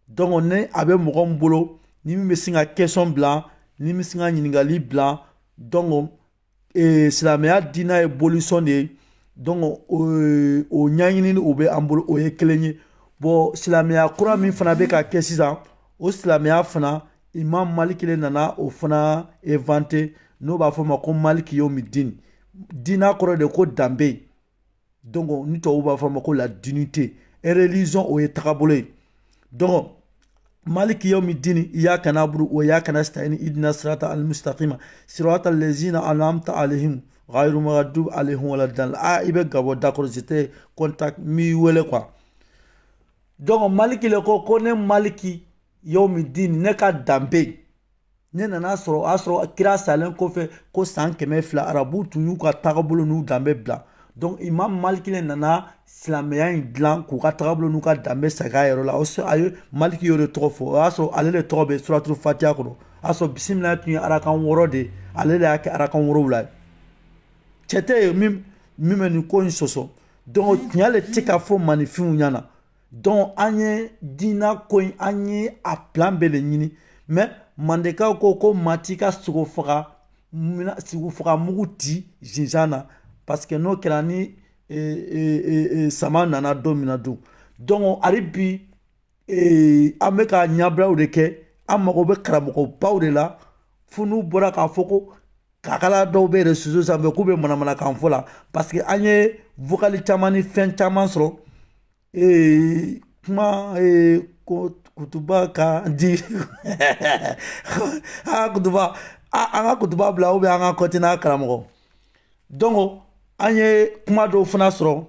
donc ni a bɛ mɔgɔ min bolo ni min bɛ sin ka question bila ni min bɛ sin ka ɲininkali bila donc ee, silamɛya diinɛ ye bolisɔn de ye donc o o ɲɛɲinini o bɛ an bolo o ye kelen ye bon silamɛya kura min fana bɛ ka kɛ sisan o silamɛya fana imam maliki de nana o fana inventer n'o b'a fɔ ma ko maliki yomi din diina kɔrɔ de ko danbe donc ni tubabu b'a fɔ a ma ko la dignité et religion o ye tagabolo ye donc maliki yomi din iyaka nabudu wa iyaka nasitayin idina sirata ali musutakima sirata alazina an'amta alehim gayiri magadubi alehim waladalin i bɛ gabɔn d'accord j'ai tes contacts n b'i wele quoi donc maliki le ko ko ne maliki yomi din ne ka danbe ne nana sɔrɔ o y'a sɔrɔ kira salen kɔfɛ ko san kɛmɛ fila arabu tun y'u ka tagabolo n'u danbe bila donc imam maliki le nana silamɛya in dilan k'u ka tagabolo n'u ka danbe segin a yɛrɛ la a ye maliki y'o de tɔgɔ fɔ o y'a sɔrɔ ale de tɔgɔ bɛ suratul fatiya kɔnɔ o y'a sɔrɔ bisimila tun ye arakan wɔɔrɔ de ye ale de y'a kɛ arakan wolonwula ye cɛ tɛ yen min min bɛ nin ko in sɔsɔ donc tiɲɛ le tɛ ka fɔ maninfinw ɲɛna donc an ye diina ko in an ye a plan bɛɛ de ɲini mɛ mandekaw ko ko maa t'i ka sogo faga sogo faga mugu ti zinzan na parce que n'o kɛra ni e, e, e, sama nana don min na dun donc hali bi an bɛ ka ɲabilaw de kɛ an mago bɛ karamɔgɔbaw de la fo n'u bɔra k'a fɔ ko kakala dɔw bɛ réseau sanfɛ k'u bɛ manamanakan fɔ la parce que an ye vocal caman ni fɛn caman sɔrɔ ee kuma ee ko kutuba ka di aa kutuba an ka kutuba bila ou bien an ka kɔti n'a karamɔgɔ donc an ye kuma dɔw fana sɔrɔ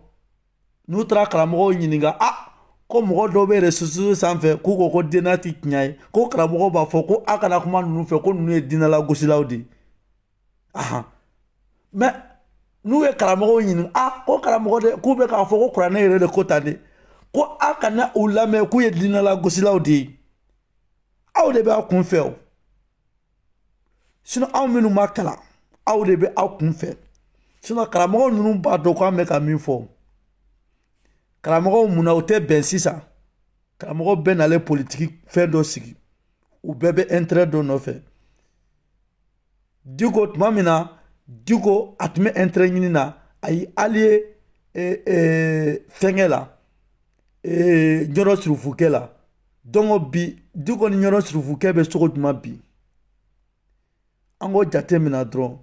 n'u taara karamɔgɔw ɲininka a ah, ko mɔgɔ dɔw bɛ réseau sanfɛ k'u ko ko diina tɛ tiɲɛ ye ko karamɔgɔw b'a fɔ ko a kana kuma ninnu fɛ ko ninnu ye diinɛlagosilaw de ye ahan mɛ n'u ye karamɔgɔw ɲininka a ah, ko karamɔgɔ de k'u bɛ k'a fɔ ko kuranɛ yɛrɛ de ko tan de ko a kana u lamɛn k'u ye diinɛlagosilaw de ye aw de b'aw kun fɛ o sinɔn aw minnu ma kalan aw de bɛ aw kun fɛ sinɔn karamɔgɔ ninnu b'a dɔn k'an bɛ ka min fɔ karamɔgɔw munna u tɛ bɛn sisan karamɔgɔ bɛɛ nalen politiki fɛn dɔ sigi u bɛɛ bɛ ɛnterɛ dɔ nɔfɛ diko tuma min na diko a tun bɛ ɛnterɛ ɲini na a y'i aliye e, e, fɛnkɛ la ee ɲɔrɔn surufukɛ la dɔnku bi diko ni ɲɔrɔn surufukɛ bɛ cogo jumɛn bi an k'o jate minɛ dɔrɔn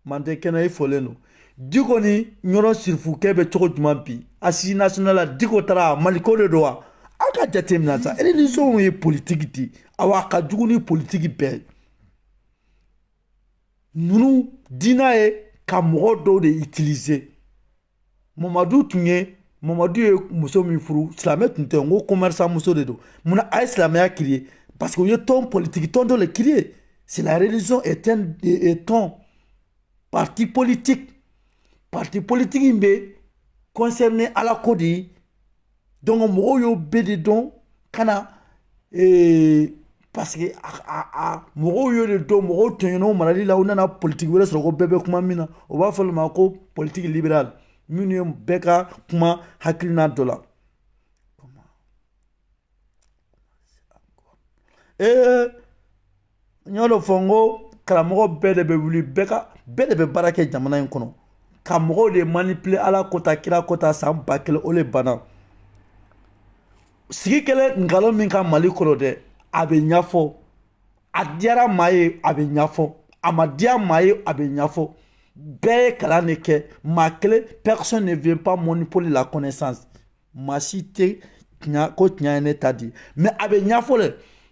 manden kɛnɛ i fɔlen don diko ni ɲɔrɔn surufukɛ bɛ cogo jumɛn bi assise nationale la diko taara mali ko de don wa aw ka jate minɛ sa religion ye politigi di awa a ka jugu ni politigi bɛɛ ye ninnu diinɛ ye ka mɔgɔ dɔw de itilize mamadu tun ye mamadu ye muso min furu silamɛ tun tɛ n ko commerçant muso de don munna a ye silamɛya créer parce que u ye tɔn politigi tɔn dɔ de créer c'est la religion est un parti politique parti politique in bɛ concerné ala ko de ye dɔnku mɔgɔw y'o bɛɛ de dɔn ka na ee, parce que a, a, a mɔgɔw y'o de dɔn mɔgɔw tɔɲɔnn'o marali la u nana politiki wɛrɛ sɔrɔ ko bɛɛ bɛ kuma min na o b'a fɔ olu ma ko politiki liberal minnu ye bɛɛ ka kuma hakilina dɔ la ee n y'o de fɔ n ko karamɔgɔ bɛɛ de bɛ wuli bɛɛ ka bɛɛ de bɛ baara kɛ jamana in kɔnɔ ka mɔgɔw de manipule ala ko tan kira ko tan san ba kelen o le banna sigi kɛlɛ nkalon min ka mali kɔnɔ dɛ a bɛ ɲɛfɔ a diyara maa ye a bɛ ɲɛfɔ a ma diya maa ye a bɛ ɲɛfɔ bɛɛ ye kalan de kɛ maa kelen personne ne vient pas monopole la connaissance maa si tɛ tiɲɛ ko tiɲɛ ye ne ta di mais a bɛ ɲɛfɔ dɛ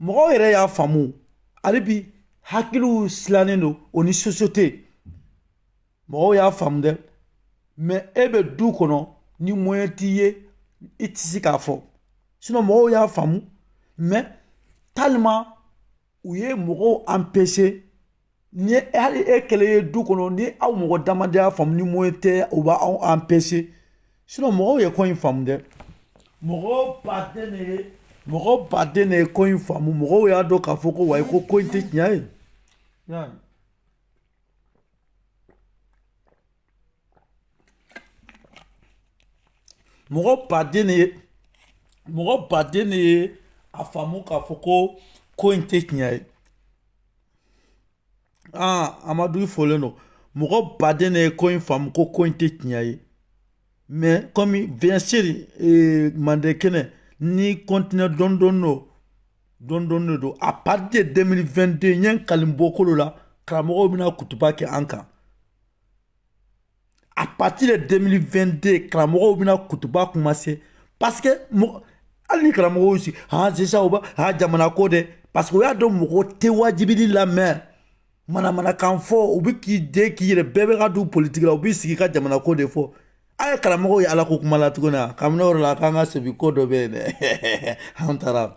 mɔgɔw yɛrɛ y'a faamu hali bi hakiliw silannen don o ni société mɔgɔw y'a faamu dɛ mais e bɛ du kɔnɔ ni moyen t'i ye i tɛ se k'a fɔ sinon mɔgɔw y'a faamu mais tellement u ye mɔgɔw empêcher ni hali e kelen ye du kɔnɔ ni aw mɔgɔ dama de y'a faamu ni moyen tɛ u b'aw empêcher sinon mɔgɔw ye ko in faamu dɛ mɔgɔ baden de ye mɔgɔ baden de ye ko in faamu mɔgɔw y'a dɔn k'a fɔ ko wayi ko ko in tɛ tiɲɛ ye mɔgɔ baden de ye mɔgɔ baden de ye a faamu k'a fɔ ko ko in tɛ tiɲɛ ye aa amadu i folen don mɔgɔ baden de ye ko in faamu ko ko in tɛ tiɲɛ ye mais comme bien sûr ee, mande kɛnɛ ni continuer dɔɔni dɔɔni don dɔɔni dɔɔni de don à partir de 2022 n ye n kali n bɔkolo la karamɔgɔw bɛna kutuba kɛ an kan à partir de 2022 karamɔgɔw bɛna kutuba commencer parce que hali ni karamɔgɔw si han ah, sisan u b'a han ah, jamana ko dɛ parce que u y'a dɔn mɔgɔ tɛ wajibili lamɛn manamanakan fɔ u bɛ k'i den k'i yɛrɛ bɛɛ bɛ ka don politiki la u b'i sigi ka jamana ko de fɔ a ye karamɔgɔw ye ala ko kuma la tuguni a kabini o yɔrɔ la k'an ka sebi ko dɔ bɛ yen dɛ an taara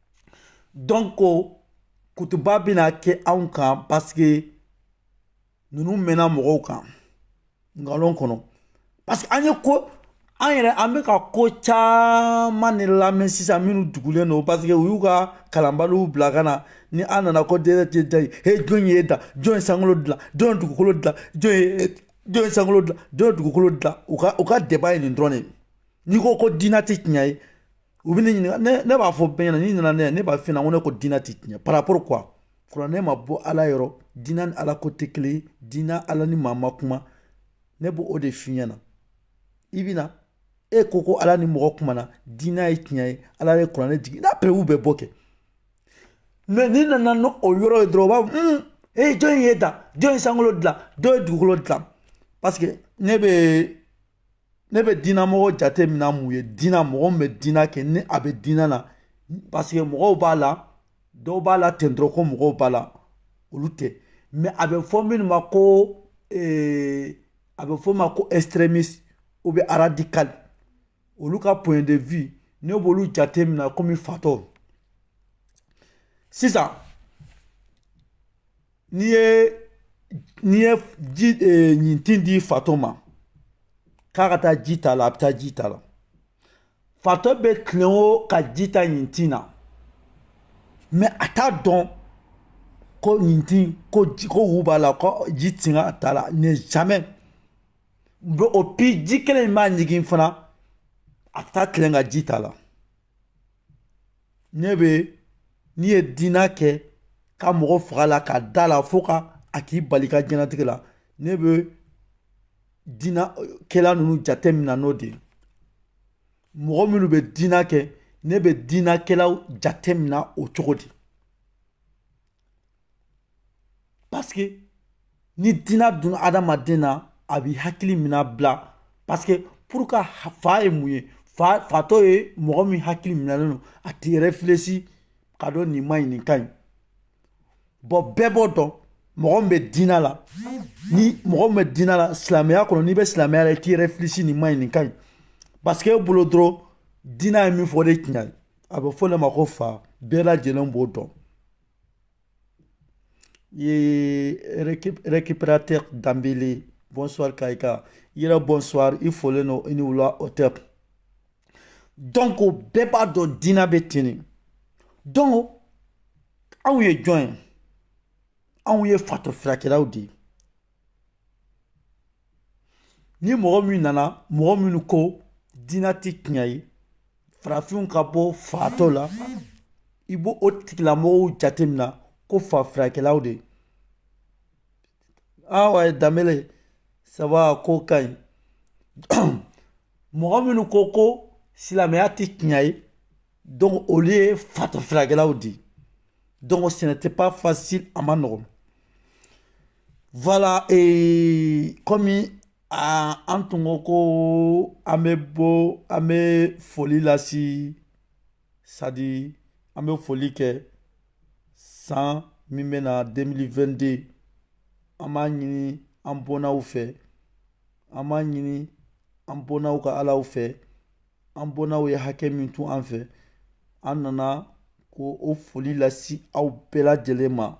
donc kutuba bɛna kɛ anw kan parce que ninnu mɛnna mɔgɔw kan nkalon kɔnɔ parce que an ye ko an yɛrɛ an bɛ ka ko caman de lamɛn sisan minnu dugulen don parce que u y'u ka kalanbaliw bila ka na ni an nana ko dɛrɛ tɛ da ye he jɔn y'i da jɔn ye sankolo dilan jɔn ye dugukolo dilan jɔn ye jɔn ye sankolo dilan jɔn ye dugukolo dilan u ka u ka débat ye nin dɔrɔn de ye n'i ko ko diinɛ tɛ tiɲɛ ye u bɛ ne ɲininka ne ne b'a fɔ bɛɛ ɲɛna n'i nana ne ne b'a f'i ɲɛna ko ne ko diinɛ tɛ tiɲɛ par rapport quoi kuranɛ ma bɔ ala yɔrɔ diinɛ ni ala ko tɛ kelen ye diinɛ ala ni maa ma kuma ne b'o o de f'i ɲɛna i bɛ na e ko ko ala ni mɔgɔ kumana diinɛ ye tiɲɛ ye ala ye kuranɛ jigin n'a preuve bɛɛ bɔ kɛ mais n'i nana n'o o yɔrɔ ye dɔrɔn u b'a fɔ ee jɔni y'i da jɔn ye sankolo dilan jɔn ye dugukolo dilan parce que ne bɛ ne bɛ diinɛ mɔgɔ jate mina mun ye diinɛ mɔgɔ min bɛ diinɛ kɛ ni a bɛ diinɛ na parce que mɔgɔw b'a la dɔw b'a la ten dɔrɔn ko mɔgɔw b'a la olu tɛ mais a bɛ fɔ minnu ma ko ee, a bɛ fɔ ma ko extrémiste ou bien radical olu ka point de vue ne b'olu jate mina komi fatɔ sisan n'i ye n'i ye ji eh, ɲintin di fatɔ ma k'a ka taa ji ta la a bɛ taa ji ta la fatɔ bɛ tilen o ka ji ta ɲintin na mais a t'a dɔn ko ɲintin ko ji ko wu b'a la ko ji tɛ ka t'a la ne jamais bɛ et puis ji kelen in b'a ɲigin fana a bɛ taa tilen ka ji ta la ne bɛ n'i ye diinɛ kɛ ka mɔgɔ faga la ka da la fo ka a k'i bali ka diɲɛlatigɛ la ne bɛ diinɛ kɛla ninnu jate minɛ n'o de ye mɔgɔ minnu bɛ diinɛ kɛ ne bɛ diinɛ kɛlaw jate minɛ o cogo di Parce que ni diinɛ donna adamaden na a b'i hakili mina bila parce que pour que fa ye mun ye fa fatɔ ye mɔgɔ min hakili minɛlen don a t'i réfléchir ka dɔn nin ma ɲi nin ka ɲi bon bɛɛ b'o dɔn mɔgɔ min bɛ diinɛ la ni mɔgɔ min bɛ diinɛ la silamɛya kɔnɔ n'i bɛ silamɛya la i t'i réfléchir nin ma ɲi nin ka ɲi parce que e bolo dɔrɔn diinɛ ye min fɔ o de tiɲɛ ye a bɛ fɔ o de ma ko fa bɛɛ lajɛlen b'o dɔn Récupérateur Dambélé bonsoir ka i ka yɛrɛ bonsoir i folen don i ni wula o tɛ donc bɛɛ b'a dɔn diinɛ bɛ ten de donc anw ye jɔn ye anw ye fatɔ furakɛlaw de ye ni mɔgɔ min nana mɔgɔ minnu ko diinɛ tɛ tiɲɛ ye farafinw ka bɔ fatɔ la i b'o tigilamɔgɔw jate mina ko fa furakɛlaw de ouais Dambélé ça va ko ka ɲi mɔgɔ minnu ko ko silamɛya tɛ tiɲɛ ye donc olu ye fatɔ furakɛlaw de ye donc ce n'était pas facile a ma nɔgɔn voilà et komi a an tun ko ko an bɛ bɔ an bɛ foli lase sadi an bɛ foli kɛ san min bɛ na 2022 an b'a ɲini an bɔnnaw fɛ an b'a ɲini an bɔnnaw ka alaw fɛ an bɔnnaw ye hakɛ min to an fɛ an nana ko o foli lase aw bɛɛ lajɛlen ma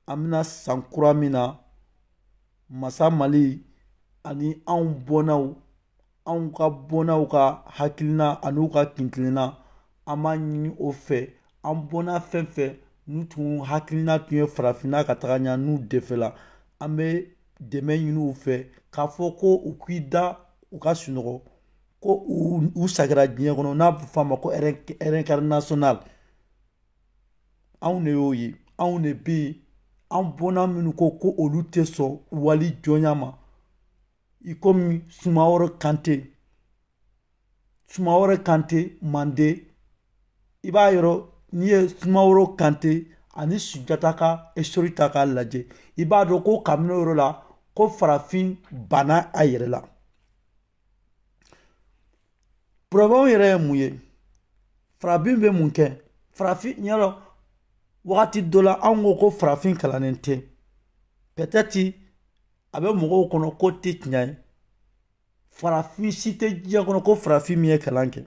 an bɛna san kura min na masa mali ani anw bɔnnaw anw ka bɔnnaw ka hakilina an'u ka kuntilenna an b'a ɲini o fɛ an bɔnna fɛn fɛn n'u tun hakilina tun ye farafinna ka taga ɲɛ n'u defɛla an bɛ dɛmɛ ɲini u fɛ k'a fɔ ko u k'i da u ka sunɔgɔ ko u sagira diɲɛ kɔnɔ n'a bɛ f'a ma ko réincarnation anw de y'o ye anw de bɛ yen an bɔnna minnu ko ko olu tɛ sɔn wali jɔnya ma i kɔmi sumaworo kante sumaworo kante manden i b'a yɔrɔ n'i ye sumaworo kante ani sunjata ka histoire ta k'a lajɛ i b'a dɔn ko kabini o yɔrɔ la ko farafin banna a yɛrɛ la Problème yɛrɛ ye mun ye farafin bɛ mun kɛ farafin ɲɛ rɔ wagati dɔ la anw ko ko farafin kalannen tɛ peut-être a bɛ mɔgɔw kɔnɔ ko tɛ tiɲɛ ye farafin si tɛ diɲɛ kɔnɔ ko farafin min ye kalan kɛ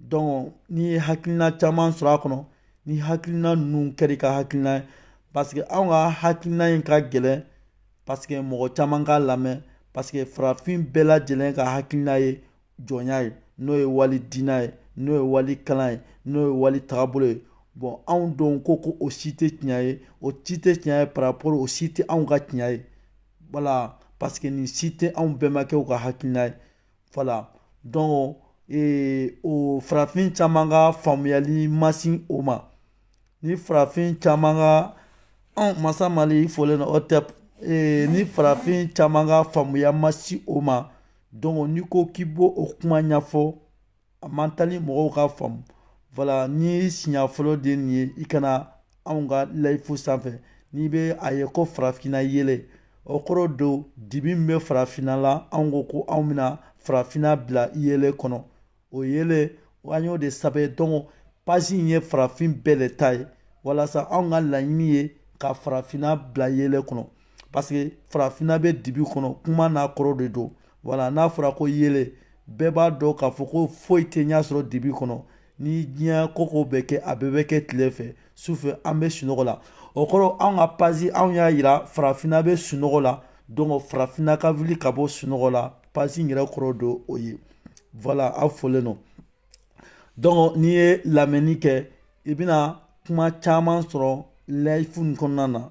donc n'i ye hakilina caman sɔrɔ a kɔnɔ ni hakilina ninnu kɛra i ka hakilina ye parce que anw ka hakilina in ka gɛlɛn parce que mɔgɔ caman k'a lamɛn parce que farafin bɛɛ lajɛlen ka hakilina ye jɔnya ye n'o ye wali diinɛ ye n'o ye wali kalan ye n'o ye wali tagabolo ye bon anw don ko ko o si tɛ tiɲɛ ye o si tɛ tiɲɛ ye par rapport o si tɛ anw ka tiɲɛ ye voilà parce que nin si tɛ anw bɛnbakɛw ka hakilina ye Voilà donc o farafin caman ka faamuyali ma se o ma ni farafin caman ka anw masa mali fɔlen o tɛ ni farafin caman ka faamuya ma se o ma donc n'i ko k'i b'o kuma ɲɛfɔ a man teli mɔgɔw k'a faamu voilà n'i siɲɛ fɔlɔ de nin ye i ka na anw ka live sanfɛ n'i bɛ a ye ko farafinna yeelen o kɔrɔ don dibi min bɛ farafinna la anw ko ko anw bɛna farafinna bila yeelen kɔnɔ o yeelen an y'o de sɛbɛn donc page in ye farafin bɛɛ le ta ye walasa anw ka laɲini ye ka farafinna bila yeelen kɔnɔ parce que farafinna bɛ dibi kɔnɔ kuma n'a kɔrɔ de don voilà n'a fɔra ko yeelen bɛɛ b'a dɔn k'a fɔ ko foyi tɛ ɲɛsɔrɔ dibi kɔnɔ ni diɲɛ koko bɛ kɛ a bɛɛ bɛ kɛ tile fɛ su fɛ an bɛ sunɔgɔ la o kɔrɔ anw ka page anw y'a yira farafinna bɛ sunɔgɔ la donc farafinna ka wuli ka bɔ sunɔgɔ la page in yɛrɛ kɔrɔ don o ye voilà a fɔlen don donc n'i ye lamɛnni kɛ i bɛna kuma caman sɔrɔ live kɔnɔna na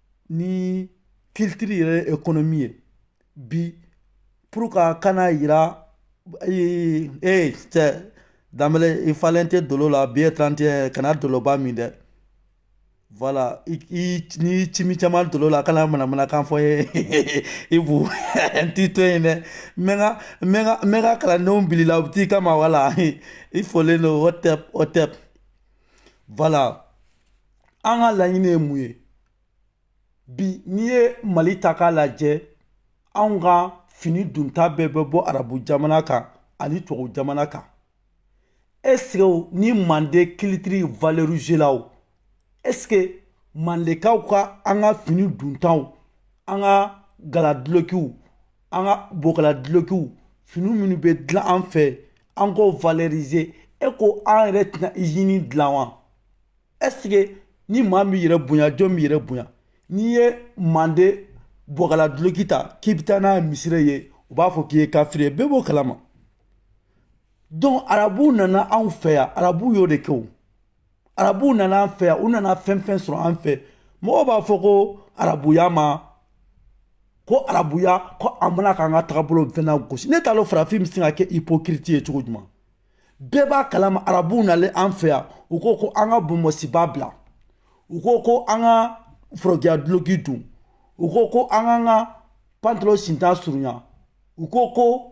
ni kilitiri yɛrɛ ye ekonomi ye bi pour ka kana yira ee ee cɛ danbele i falen tɛ dolo la bi ye trente et un kana doloba min dɛ voilà ni cimi caman dolo la kana manamanakan fɔ ye i bu n t'i to yen dɛ n bɛ n ka kalandenw bil'i la u bɛ t'i kama wala i folen don o tɛ o tɛ voilà an ka laɲini ye mun ye bi n'i ye mali ta k'a lajɛ anw ka fini dunta bɛɛ bɛ bɔ arabu jamana kan ani tubabu jamana kan ɛsike ni manden kilitiri valorizela o ɛsike mandekaw ka an ka fini duntaw an ka galadulokiw an ka bɔgɔladulokiw fini minnu bɛ dilan an fɛ an k'o valorize e ko an yɛrɛ tɛna izini dilan wa ɛsike ni maa m'i yɛrɛ bonya jɔn b'i yɛrɛ bonya n'i ye mande bɔgɔla duloki ta k'i bɛ taa n'a ye misiri la u b'a fɔ k'i ye kafiri ye bɛɛ b'o kalama donc arabuw nana anw fɛ yan arabuw y'o de kɛ o arabuw nana an fɛ yan u nana fɛn fɛn sɔrɔ an fɛ mɔgɔw b'a fɔ ko arabuya ma ko arabuya ko a ma na k'an ka tagabolo fɛn nagosi ne t'a dɔn farafin bɛ se ka kɛ ipokiriti ye cogo jumɛn bɛɛ b'a kalama arabuw nalen an fɛ yan u ko ko an ka bonbonsiba bila u ko ko an ka forokiya duloki don u ko ko an k'an ka pantalon sinta surunya u ko ko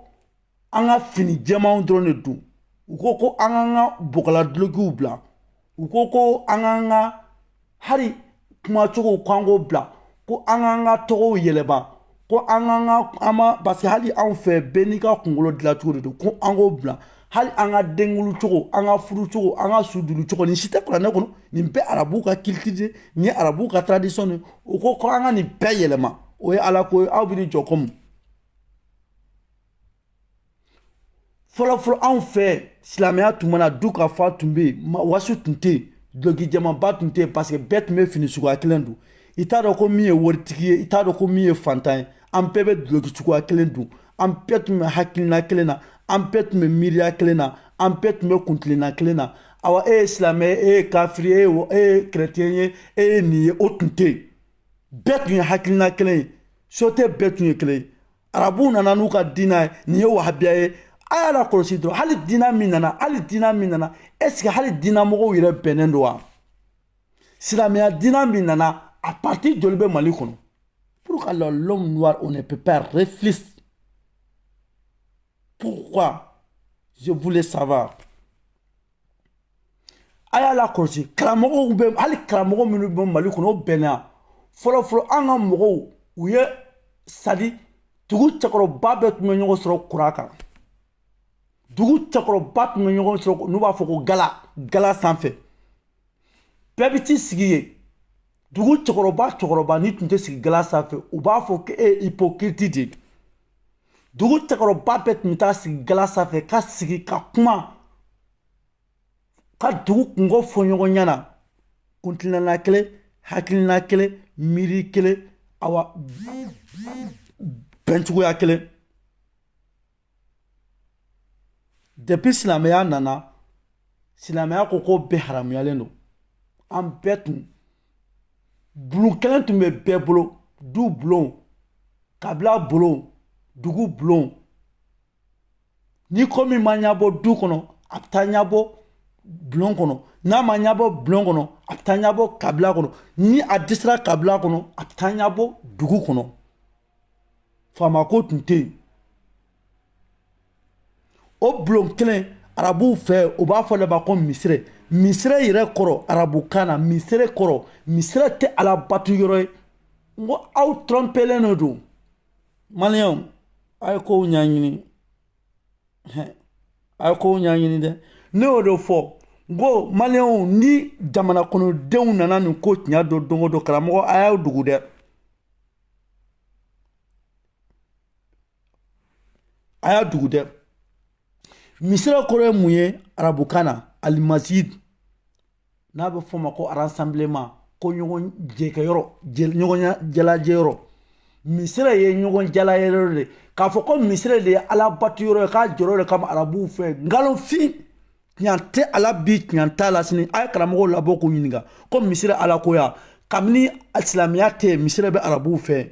an ka fini jɛmanw dɔrɔn de don u ko ko an k'an ka bɔgɔla dulokiw bila u ko ko an k'an ka hali kumacogow ko an k'o bila ko an k'an ka tɔgɔw yɛlɛma ko an k'an ka an ma parce que hali anw fɛ bɛɛ n'i ka kunkolo dilancogo de don ko an k'o bila hali an ka denkunli cogo an ka furu cogo an ka sudonli cogo nin si tɛ kuranɛ kɔnɔ nin bɛɛ arabu ka kilitiri de nin ye arabu ka tradition de u ko ko an ka nin bɛɛ yɛlɛma o ye ala ko ye aw bɛ ni jɔ ko mun fɔlɔfɔlɔ anw fɛ silamɛya tun ma na dunkafa tun bɛ yen waso tun tɛ yen dulɔkijɛmanba tun tɛ yen paseke bɛɛ tun bɛ fini suguya kelen don i t'a dɔn ko min ye waritigi ye i t'a dɔn ko min ye faantan ye an bɛɛ bɛ duloki cogoya kelen don an bɛɛ tun bɛ hakilina kelen na an bɛɛ tun bɛ miiriya kelen na an bɛɛ tun bɛ kuntilenna kelen na awa e ye silamɛ ye e ye kafiri ye e ye kɛrɛtiyɛn ye e ye nin ye o tun tɛ yen bɛɛ tun ye hakilina kelen ye sote bɛɛ tun ye kelen ye arabuw nana n'u ka diinɛ ye nin ye wahabiya ye a y'a lakɔlɔsi dɔrɔn hali diinɛ min nana hali diinɛ min nana ɛseke hali diinɛ mɔgɔw yɛrɛ bɛnnen don wa silamɛya diinɛ min nana a parti joli bɛ mali kɔnɔ pourquoi là l'homme noir on ne peut pas réfléchir pourquoi je voulais savoir a y'a lakɔlɔsi karamɔgɔw bɛ hali karamɔgɔ minnu bɛ mali kɔnɔ o bɛnna fɔlɔfɔlɔ an ka mɔgɔw u ye sadi dugu cɛkɔrɔba bɛɛ tun bɛ ɲɔgɔn sɔrɔ kura kan dugu cɛkɔrɔba tun bɛ ɲɔgɔn sɔrɔ n'u b'a fɔ ko gala gala sanfɛ bɛɛ bɛ t'i sigi yen dugu cɛkɔrɔba cɛkɔrɔba min tun tɛ sigi gala sanfɛ u b'a fɔ k'e ye hypocrite de ye dugu cɛkɔrɔba bɛɛ tun bɛ taa sigi gala sanfɛ ka sigi ka kuma ka dugu kunko fɔ ɲɔgɔn ɲɛna kuntilenna kelen hakilina kelen miiri kelen awa bɛncogoya kelen Depuis silamɛya nana silamɛya ko ko bɛɛ haramuyalen don an bɛɛ tun bulon kelen tun bɛ bɛɛ bolo du bulon kabila bulon dugu bulon ni ko min ma ɲɛbɔ du kɔnɔ a bɛ taa ɲɛbɔ bulon kɔnɔ n'a ma ɲɛbɔ bulon kɔnɔ a bɛ taa ɲɛbɔ kabila kɔnɔ ni a dɛsɛra kabila kɔnɔ a bɛ taa ɲɛbɔ dugu kɔnɔ faama ko tun tɛ yen o bulon kelen arabuw fɛ u b'a f'o de ma ko misire misire yɛrɛ kɔrɔ arabukan na misire kɔrɔ misire tɛ ala bato yɔrɔ ye n ko aw trɔnpelen de don maliyɛnw a ye kow ɲɛɲini a ye kow ɲɛɲini dɛ ne y'o de fɔ n ko maliyɛnw ni jamana kɔnɔdenw nana nin ko tiɲɛ dɔn don o don karamɔgɔ a y'aw dogo dɛ a y'aw dogo dɛ misire kɔrɔ ye mun ye arabukan na alimazid n'a bɛ f'o ma ko rassemblement ko ɲɔgɔn jɛkɛyɔrɔ ɲɔgɔn jalajɛyɔrɔ misire ye ɲɔgɔn jalayɔrɔ de k'a fɔ ko misire de ye ala bato yɔrɔ ye k'a jɔr'o de kama arabuw fɛ nkalonfin tiɲɛ tɛ a la bi tiɲɛ t'a la sini a ye karamɔgɔw labɔ k'u ɲininka ko misiri alakoya kabini silamɛya tɛ yen misiri bɛ arabuw fɛ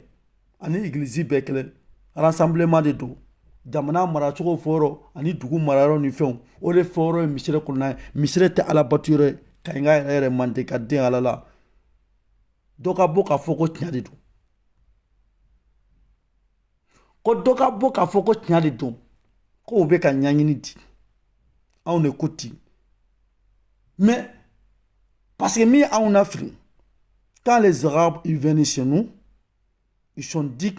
ani egilizi bɛɛ kelen rassemblement de don jamana maracogo fɔyɔrɔ ani dugu marayɔrɔ ni fɛnw o de fɔyɔrɔ ye misiri kɔnɔna ye misiri tɛ ala batuyɔrɔ ye kaɲinka yɛrɛ yɛrɛ mande ka den ala la dɔ ka bɔ k'a fɔ ko tiɲɛ de don ko dɔ ka bɔ k'a fɔ ko tiɲɛ de don k'o bɛ ka ɲɛɲini di anw de ko ten mais parce que min ye anw lafili quand les arabes ils venaient chez nous ils ont dit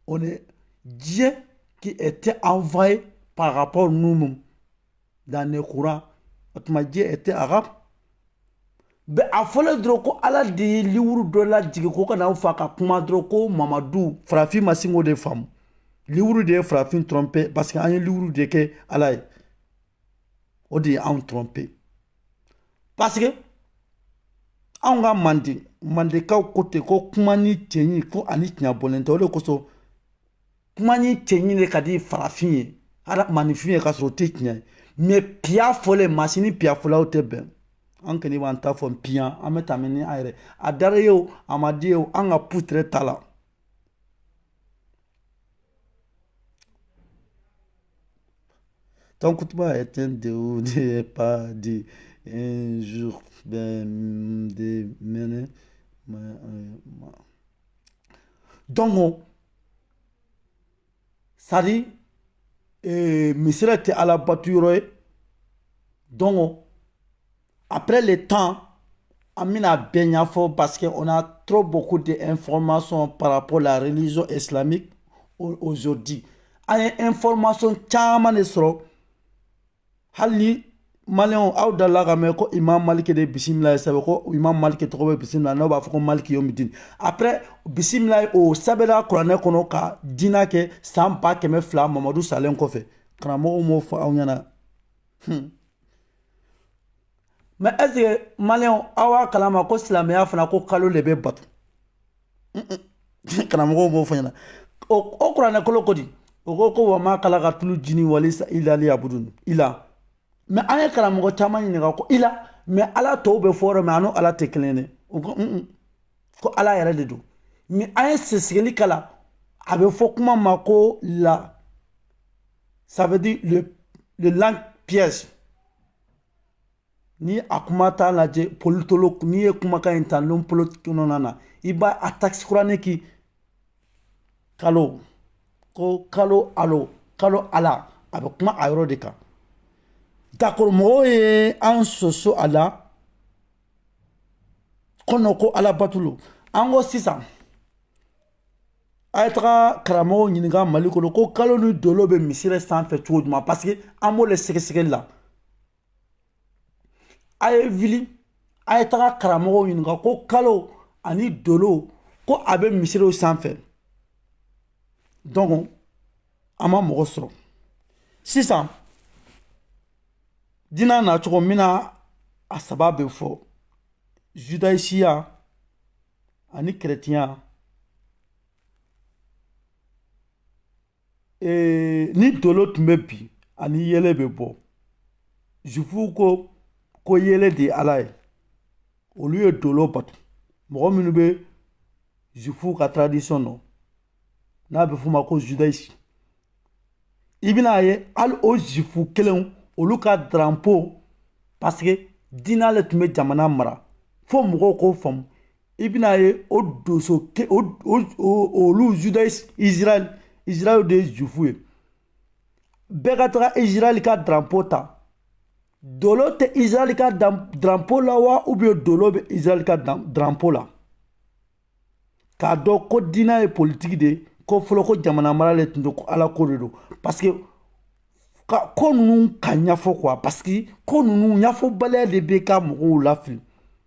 on est Dieu qui était envoyé par rapport à nous-mêmes dans le Coran o tuma Dieu était arabe mais a fɔlɔ dɔrɔn ko ala de ye liwuru dɔ lajigin ko ka n'aw fa ka kuma dɔrɔn ko mamadu farafin ma sin k'o de faamu liwuru de ye farafin tromper parce que an ye liwuru de kɛ ala ye o de ye anw tromper parce que anw ka manden mandekaw ko ten ko kuma ni cɛɲi ko ani tiɲɛ bɔlen tɛ o de kosɔn kuma ni cɛɲi de ka di farafin ye maninfin ye k'a sɔrɔ o tɛ tiɲɛ ye mais piya fɔlen maa si ni piya fɔlaw tɛ bɛn an kɔni b'an ta fɔ piyan an bɛ tɛmɛ ni an yɛrɛ a diyara i ye o a ma diya i ye o an ka putere ta la Ton kutuba est un déo n'est pas dit un jour de mener. Dɔnko sari misi tɛ alabato yɔrɔ ye dɔn apre de tan an bɛna bɛn ɲɛfɔ basi o na tro bɔ ko de n fɔ ma sɔn papo la zo emi ozodi an ye n fɔ ma sɔn caman de sɔrɔ hali ni maliyɛn aw delila ka mɛn ko imam maliki de bisimila ye sɛbɛn ko imam maliki tɔgɔ bɛ bisimila n'o b'a fɔ ko maliki yomidini après bisimila ye o sɛbɛnna kuranɛ kɔnɔ ka diinɛ kɛ san ba kɛmɛ fila mamadu salen kɔfɛ karamɔgɔw m'o fɔ aw ɲɛna hmm. mais est-ce que maliyɛn aw b'a kalama ko silamɛya fana ko kalo de bɛ bato karamɔgɔw m'o fɔ aw ɲɛna o kuranɛ kɔnɔ ko di o ko ko wa ma kalakatulu jini wali insa ila liyabudun ila mais an ye karamɔgɔ caman ɲininka ko ila mais ala tɔgɔ bɛ fɔ yɔrɔ min a ni ala tɛ kelen dɛ o ko ko ala yɛrɛ de don mais an ye sɛgɛsɛgɛli k'a la a bɛ fɔ kuma ma ko la ça veut dire le langue piège Ni a kuma t'a lajɛ politologue n'i ye kumakan in ta n polo kɔnɔna na i b' a takisikurauran kki kalo ko kalo kalo a a bɛ kuma a yɔrɔ de kan d'accord mɔgɔw ye an sɔsɔ a la ko ko ala bato an ko sisan a ye taga karamɔgɔw ɲininka mali kɔnɔ ko kalo ni dolo bɛ misiri sanfɛ cogo jumɛn parce que an b'o de sɛgɛsɛgɛli la a ye wuli a ye taga karamɔgɔw ɲininka ko kalo ani dolo ko a bɛ misiriw sanfɛ donc an ma mɔgɔ sɔrɔ sisan dina nacogo min na a saba bɛ fɔ zudayisiya ani kɛrɛtiya ee ni dolo tun bɛ bin ani yeelen bɛ bɔ zufuw ko ko yeelen de ye ala ye olu ye dolo bato mɔgɔ minnu bɛ zufuw ka taradisiyɔn dɔn n'a bɛ f'o ma ko zudayisi i bɛn'a ye hali o zufu kelenw olu ka daranpo paseke diinɛ de tun bɛ jamana mara fo mɔgɔw k'o faamu i bɛn'a ye o donso ke o olu judaïsme israel israel de ye jufu ye bɛɛ ka taga israel ka drapo ta dolo tɛ israel ka drapo la wa ubiyɛn dolo bɛ israel ka drapo la k'a dɔn ko diinɛ ye politiki de ye ko fɔlɔ ko jamana mara de tun don ko ala ko de don parce que ko ninnu ka ɲɛfɔ quoi parce que ko ninnu ɲɛfɔbaliya de bɛ ka mɔgɔw lafili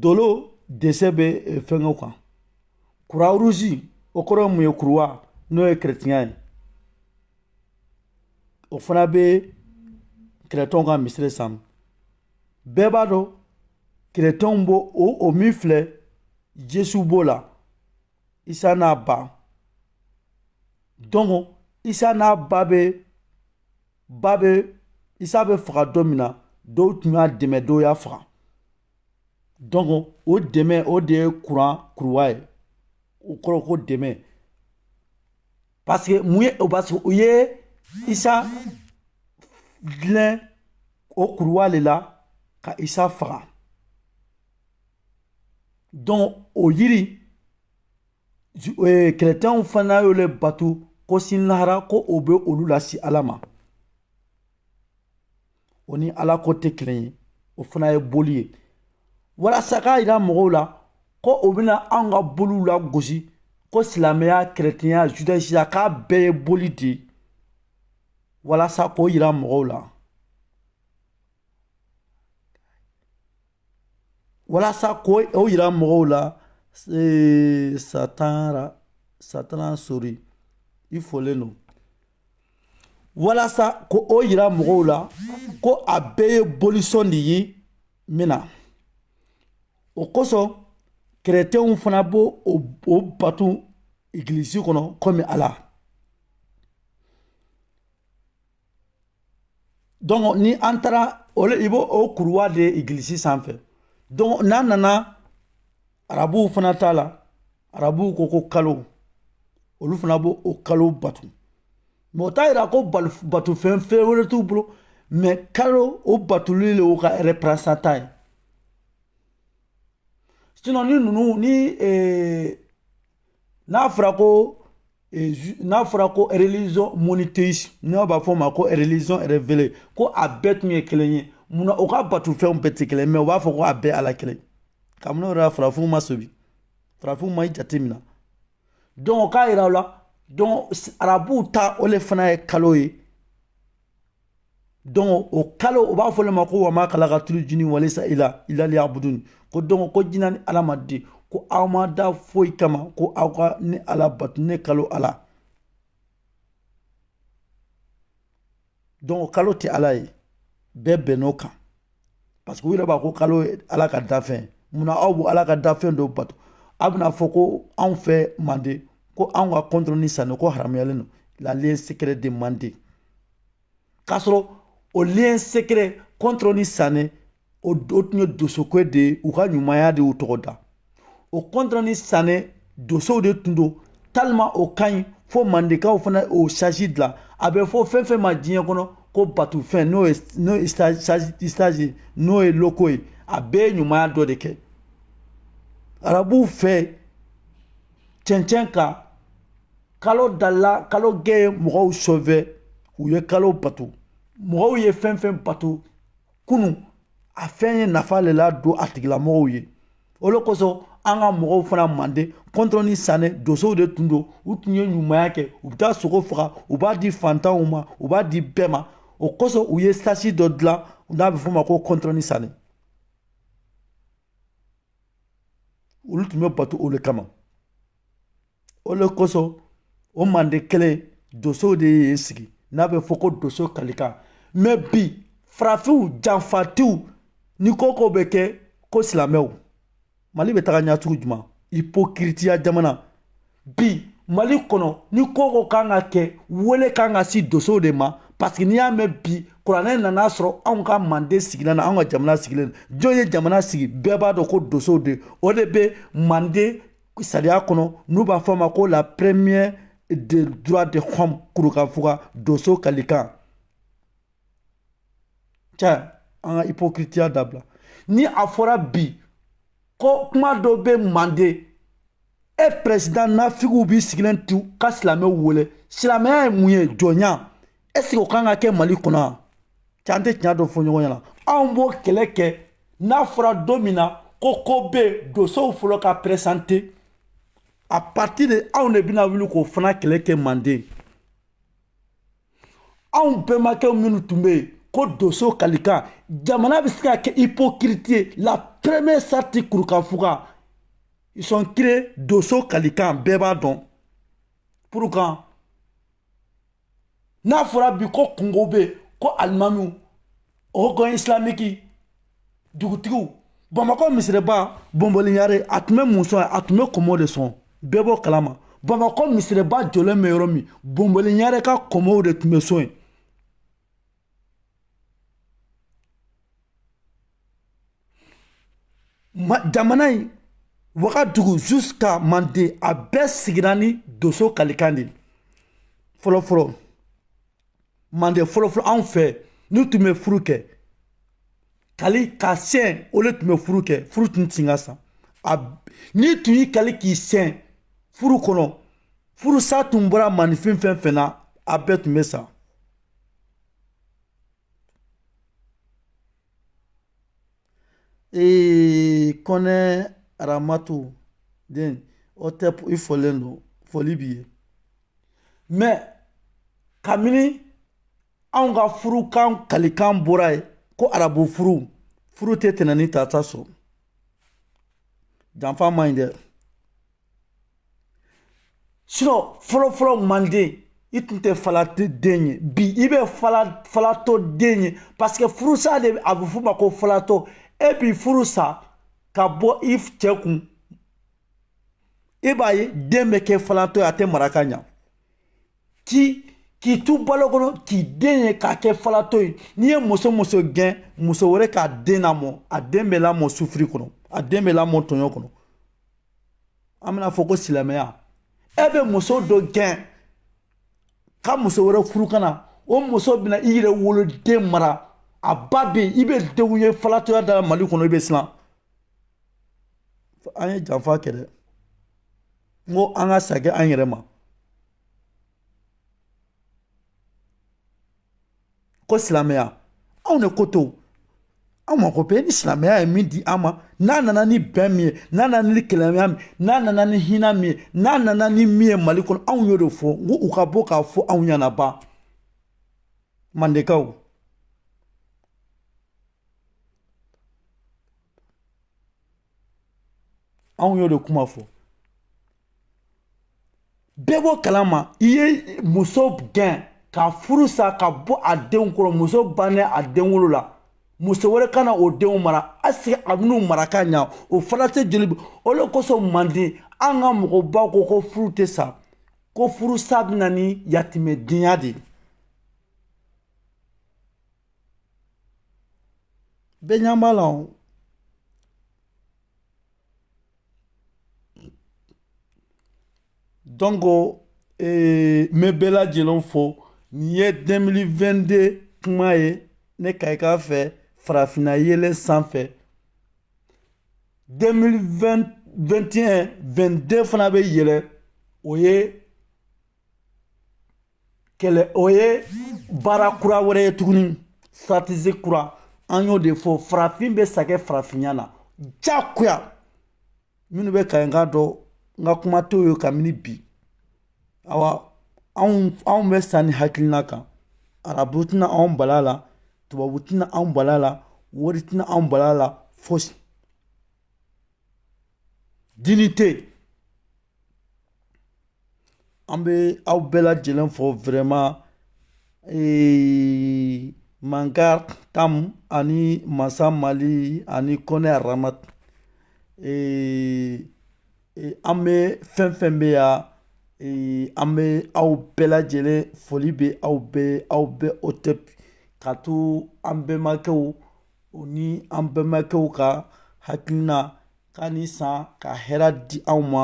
Dolo desɛn bɛ fɛnkɛw kan kuruwa ruzi o kɔrɔ mun ye kuruwa n'o ye keretiyɛnya ye o fana bɛ keretiyɛnw ka misiri san bɛɛ b'a dɔn keretiyɛnw b'o o o min filɛ yesu b'o la isa n'a ba dɔnki isa n'a ba bɛ ba bɛ isa bɛ faga don min na dɔw tun y'a dɛmɛ dɔw y'a faga dɔnki o dɛmɛ o de ye kuran kuruwa ye o kɔrɔ ko dɛmɛ parce que mun ye o parce que u ye isa dulon o kuruwa de la ka isa faga dɔnki o yiri keretiyɛnw fana y'o de bato ko sini lahara ko o bɛ olu lase ala ma o ni ala ko tɛ kelen ye o fana ye boli ye walasa k'a jira mɔgɔw la ko o bɛna anw ka boliw lagosi ko silamɛya keretiyɛnya zudayisiya k'a bɛɛ ye boli de ye walasa k'o jira mɔgɔw la walasa ko o jira mɔgɔw la sa tanra sa tan sori i fɔlen don walasa ko o jira mɔgɔw la ko a bɛɛ ye bolisɔn de ye min na o kosɔn keretiyɛnw fana b'o bato egilisi kɔnɔ kɔmi ala dɔnki ni an taara i b'o o kuruwa de egilisi sanfɛ dɔnki n'a nana arabuw fana ta la arabuw ko ko kalo olu fana b' o kalo bato mɛ o t'a jira ko bato fɛn fɛn wɛrɛ t'u bolo mɛ kalo o batoli de y'o ka reprezantan ye sinɔn ni ninnu ni n'a fɔra ko n'a fɔra ko religion monothéiste n'a b'a fɔ o ma ko religion révélée ko a bɛɛ tun ye kelen ye munna o ka bato fɛnw bɛɛ tɛ kelen mais u b'a fɔ ko a bɛɛ ala kelen kabini o yɛrɛ farafinw ma sobi farafinw ma i jate minɛ donc o k'a jira u la donc arabuw ta o de fana ye kalo ye donc o kalo u b'a fɔ le ma ko wa ma kalakatulu jini walisa ila liyabudun ko donc ko jinɛ ni adamaden ko aw ma da foyi kama ko aw ka ne ala batu ne kalo ala donc o kalo tɛ ala ye bɛɛ bɛnn'o kan parce que u yɛrɛ b'a ko kalo ye ala ka dafɛn munna aw b'o ala ka dafɛn dɔ bato aw bɛna fɔ ko anw fɛ manden ko anw ka kɔntɔrɔ ni sanɛ ko haramuyalen don la lien secret de manden k'a sɔrɔ o lien secret kɔntɔrɔ ni sanɛ o tun ye dosoko de ye u ka ɲumanya de y'u tɔgɔ da o kɔntɔrɔ ni sanɛ dosow de tun don tellement o ka ɲi fo mandekaw fana o statue dilan a bɛ fɔ fɛn fɛn ma diɲɛ kɔnɔ ko batufɛn n'o ye n'o ye statue n'o ye logo ye a bɛɛ ye ɲumanya dɔ de kɛ arabuw fɛ cɛncɛn kan kalo dala kalo gɛ ye mɔgɔw sauver u ye kalo bato mɔgɔw ye fɛn fɛn bato kunu a fɛn ye nafa le ladon a tigilamɔgɔw ye o le kosɔn an ka mɔgɔw fana mande kɔntɔrɔ ni sanɛ dosow de tun don u tun ye ɲumanya kɛ u bɛ taa sogo faga u b'a di fantanw ma u b'a di bɛɛ ma o kosɔn u ye statue dɔ dilan n'a bɛ f'o ma ko kɔntɔrɔ ni sanɛ olu tun bɛ bato o le kama o de kosɔn o manden kelen donso de ye sigi n'a bɛ fɔ ko donso kalikan mais bi farafinw janfatiw ni ko ko bɛ kɛ ko silamɛw mali bɛ taga ɲacogo jumɛn ipokiritiya jamana bi mali kɔnɔ ni ko ko kan ka kɛ wele kan ka se donsow de ma parce que n'i y'a mɛn bi kuranɛ nan'a sɔrɔ anw ka manden sigilen na anw ka jamana sigilen jɔn ye jamana sigi bɛɛ b'a dɔn ko donsow de o de bɛ manden Sariya kɔnɔ n'u b'a fɔ a ma ko la première des droits de l'homme kurukanfuga donso kalikan ca an ka ipokiritiya dabila ni a fɔra bi ko kuma dɔ bɛ manden e président nafigiw b'i sigilen to ka silamɛw wele silamɛya ye mun ye jɔnya est-ce que o kan ka kɛ mali kɔnɔ yan cɛ an tɛ tiɲɛ dɔ fɔ ɲɔgɔn ɲɛna anw b'o kɛlɛ kɛ n'a fɔra don min na ko ko bɛ yen dosow fɔlɔ ka présenter à partir de anw de bɛna wuli k'o fana kɛlɛ kɛ manden anw bɛnbakɛw minnu tun bɛ yen ko doso kalikan jamana bɛ se ka kɛ hypocrite ye la première charte kurukanfuga ils ont créé doso kalikan bɛɛ b'a dɔn pourquoi n'a fɔra bi ko kunko bɛ yen ko alimamiw haut conseil islamique dugutigiw bamakɔ misiriba bɔnbɔli ɲare a tun bɛ mun sɔn a tun bɛ kɔmɔ de sɔn bɛɛ b'o kalama bamakɔ misiriba jɔlen bɛ yɔrɔ min bɔnbɔli ɲare ka kɔmɔw de tun bɛ sɔn yen Ma jamana in wagadugu jusqu'à manden a bɛɛ sigira ni donso kalikan de ye fɔlɔfɔlɔ manden fɔlɔfɔlɔ anw fɛ n'u tun bɛ furu kɛ kali ka siyɛn o de tun bɛ furu kɛ furu tun tɛ ka sa n'i tun y'i kali k'i siyɛn furu kɔnɔ furusa tun bɔra maaninfin fɛn fɛn na a bɛɛ tun bɛ sa Ee kɔnɛ aramatu den o tɛ i folen don foli b'i ye mais kabini anw ka furukan kalikan bɔra yen ko arabu furu furu tɛ tɛnɛn ni tarata sɔrɔ janfa ma ɲi dɛ fɔlɔfɔlɔ manden i tun tɛ falatɔ den ye bi i bɛ falatɔ den ye parce que furusa de a bɛ f'o ma ko falatɔ e bi furu sa ka bɔ i cɛ kun i b'a ye den bɛ kɛ falatɔ ye a tɛ mara ka ɲa k'i k'i to balo kɔnɔ k'i den ye k'a kɛ falatɔ ye n'i ye muso muso gɛn muso wɛrɛ k'a den lamɔ a den bɛ lamɔ sufiri kɔnɔ a den bɛ lamɔ tɔɲɔ kɔnɔ an bɛna fɔ ko silamɛya e bɛ muso dɔ gɛn ka muso wɛrɛ furu ka na o muso bɛna i yɛrɛ woloden mara a ba bɛ yen i bɛ denw ye falatɔya de la mali kɔnɔ i bɛ siran an ye janfa kɛ dɛ n ko an ka sagin an yɛrɛ ma ko silamɛya anw de ko to anw mako bɛ ni silamɛya ye min di an ma n'a nana ni bɛn min ye n'a nana ni kelenya min n'a nana ni hinɛ min ye n'a nana ni min ye mali kɔnɔ anw y'o de fɔ n ko u ka bɔ k'a fɔ anw ɲɛna ban mandenkaw anw y'o de kuma fɔ bɛɛ b'o kalama i ye muso gɛn ka furu sa ka bɔ a denw kɔrɔ muso bannen a denwolo la muso wɛrɛ kana o denw mara est-ce que a bɛn'u mara ka ɲa o fana tɛ joli o le kosɔn manden an ka mɔgɔbaw ko ko furu tɛ sa ko furu sa bɛna ni yatimɛdenya de ye bɛɛ ɲɛ b'a la o Donc n bɛ bɛɛ lajɛlen fo nin ye 2022 kuma ye ne ka i k'a fɛ farafinna yɛlɛ sanfɛ 2021 22 fana bɛ yɛlɛ o ye kɛlɛ o ye baara kura wɛrɛ ye tuguni stratégie kura an y'o de fɔ farafin bɛ sa kɛ farafinya na jagoya minnu bɛ ka n ka dɔn n ka kuma t'o ye kabini bi awa anw anw bɛ sa nin hakilina kan arabu tɛna anw bal'a la tubabu tɛna anw bal'a la wari tɛna anw bal'a la fosi dignité An bɛ aw bɛɛ lajɛlen fo vraiment ee manga tam ani masa mali ani kɔnɛ aramat ee an bɛ fɛn fɛn bɛ yan ee an bɛ aw bɛɛ lajɛlen foli bɛ aw ye aw bɛɛ hotep ka to an bɛnbakɛw u ni an bɛnbakɛw ka hakilina Ka nin san ka hɛrɛ di anw ma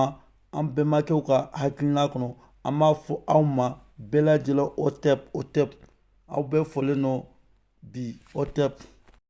an bɛnbakɛw ka hakilina kɔnɔ an b'a fɔ aw ma bɛɛ lajɛlen hotep hotep aw bɛɛ folen nɔ bi hotep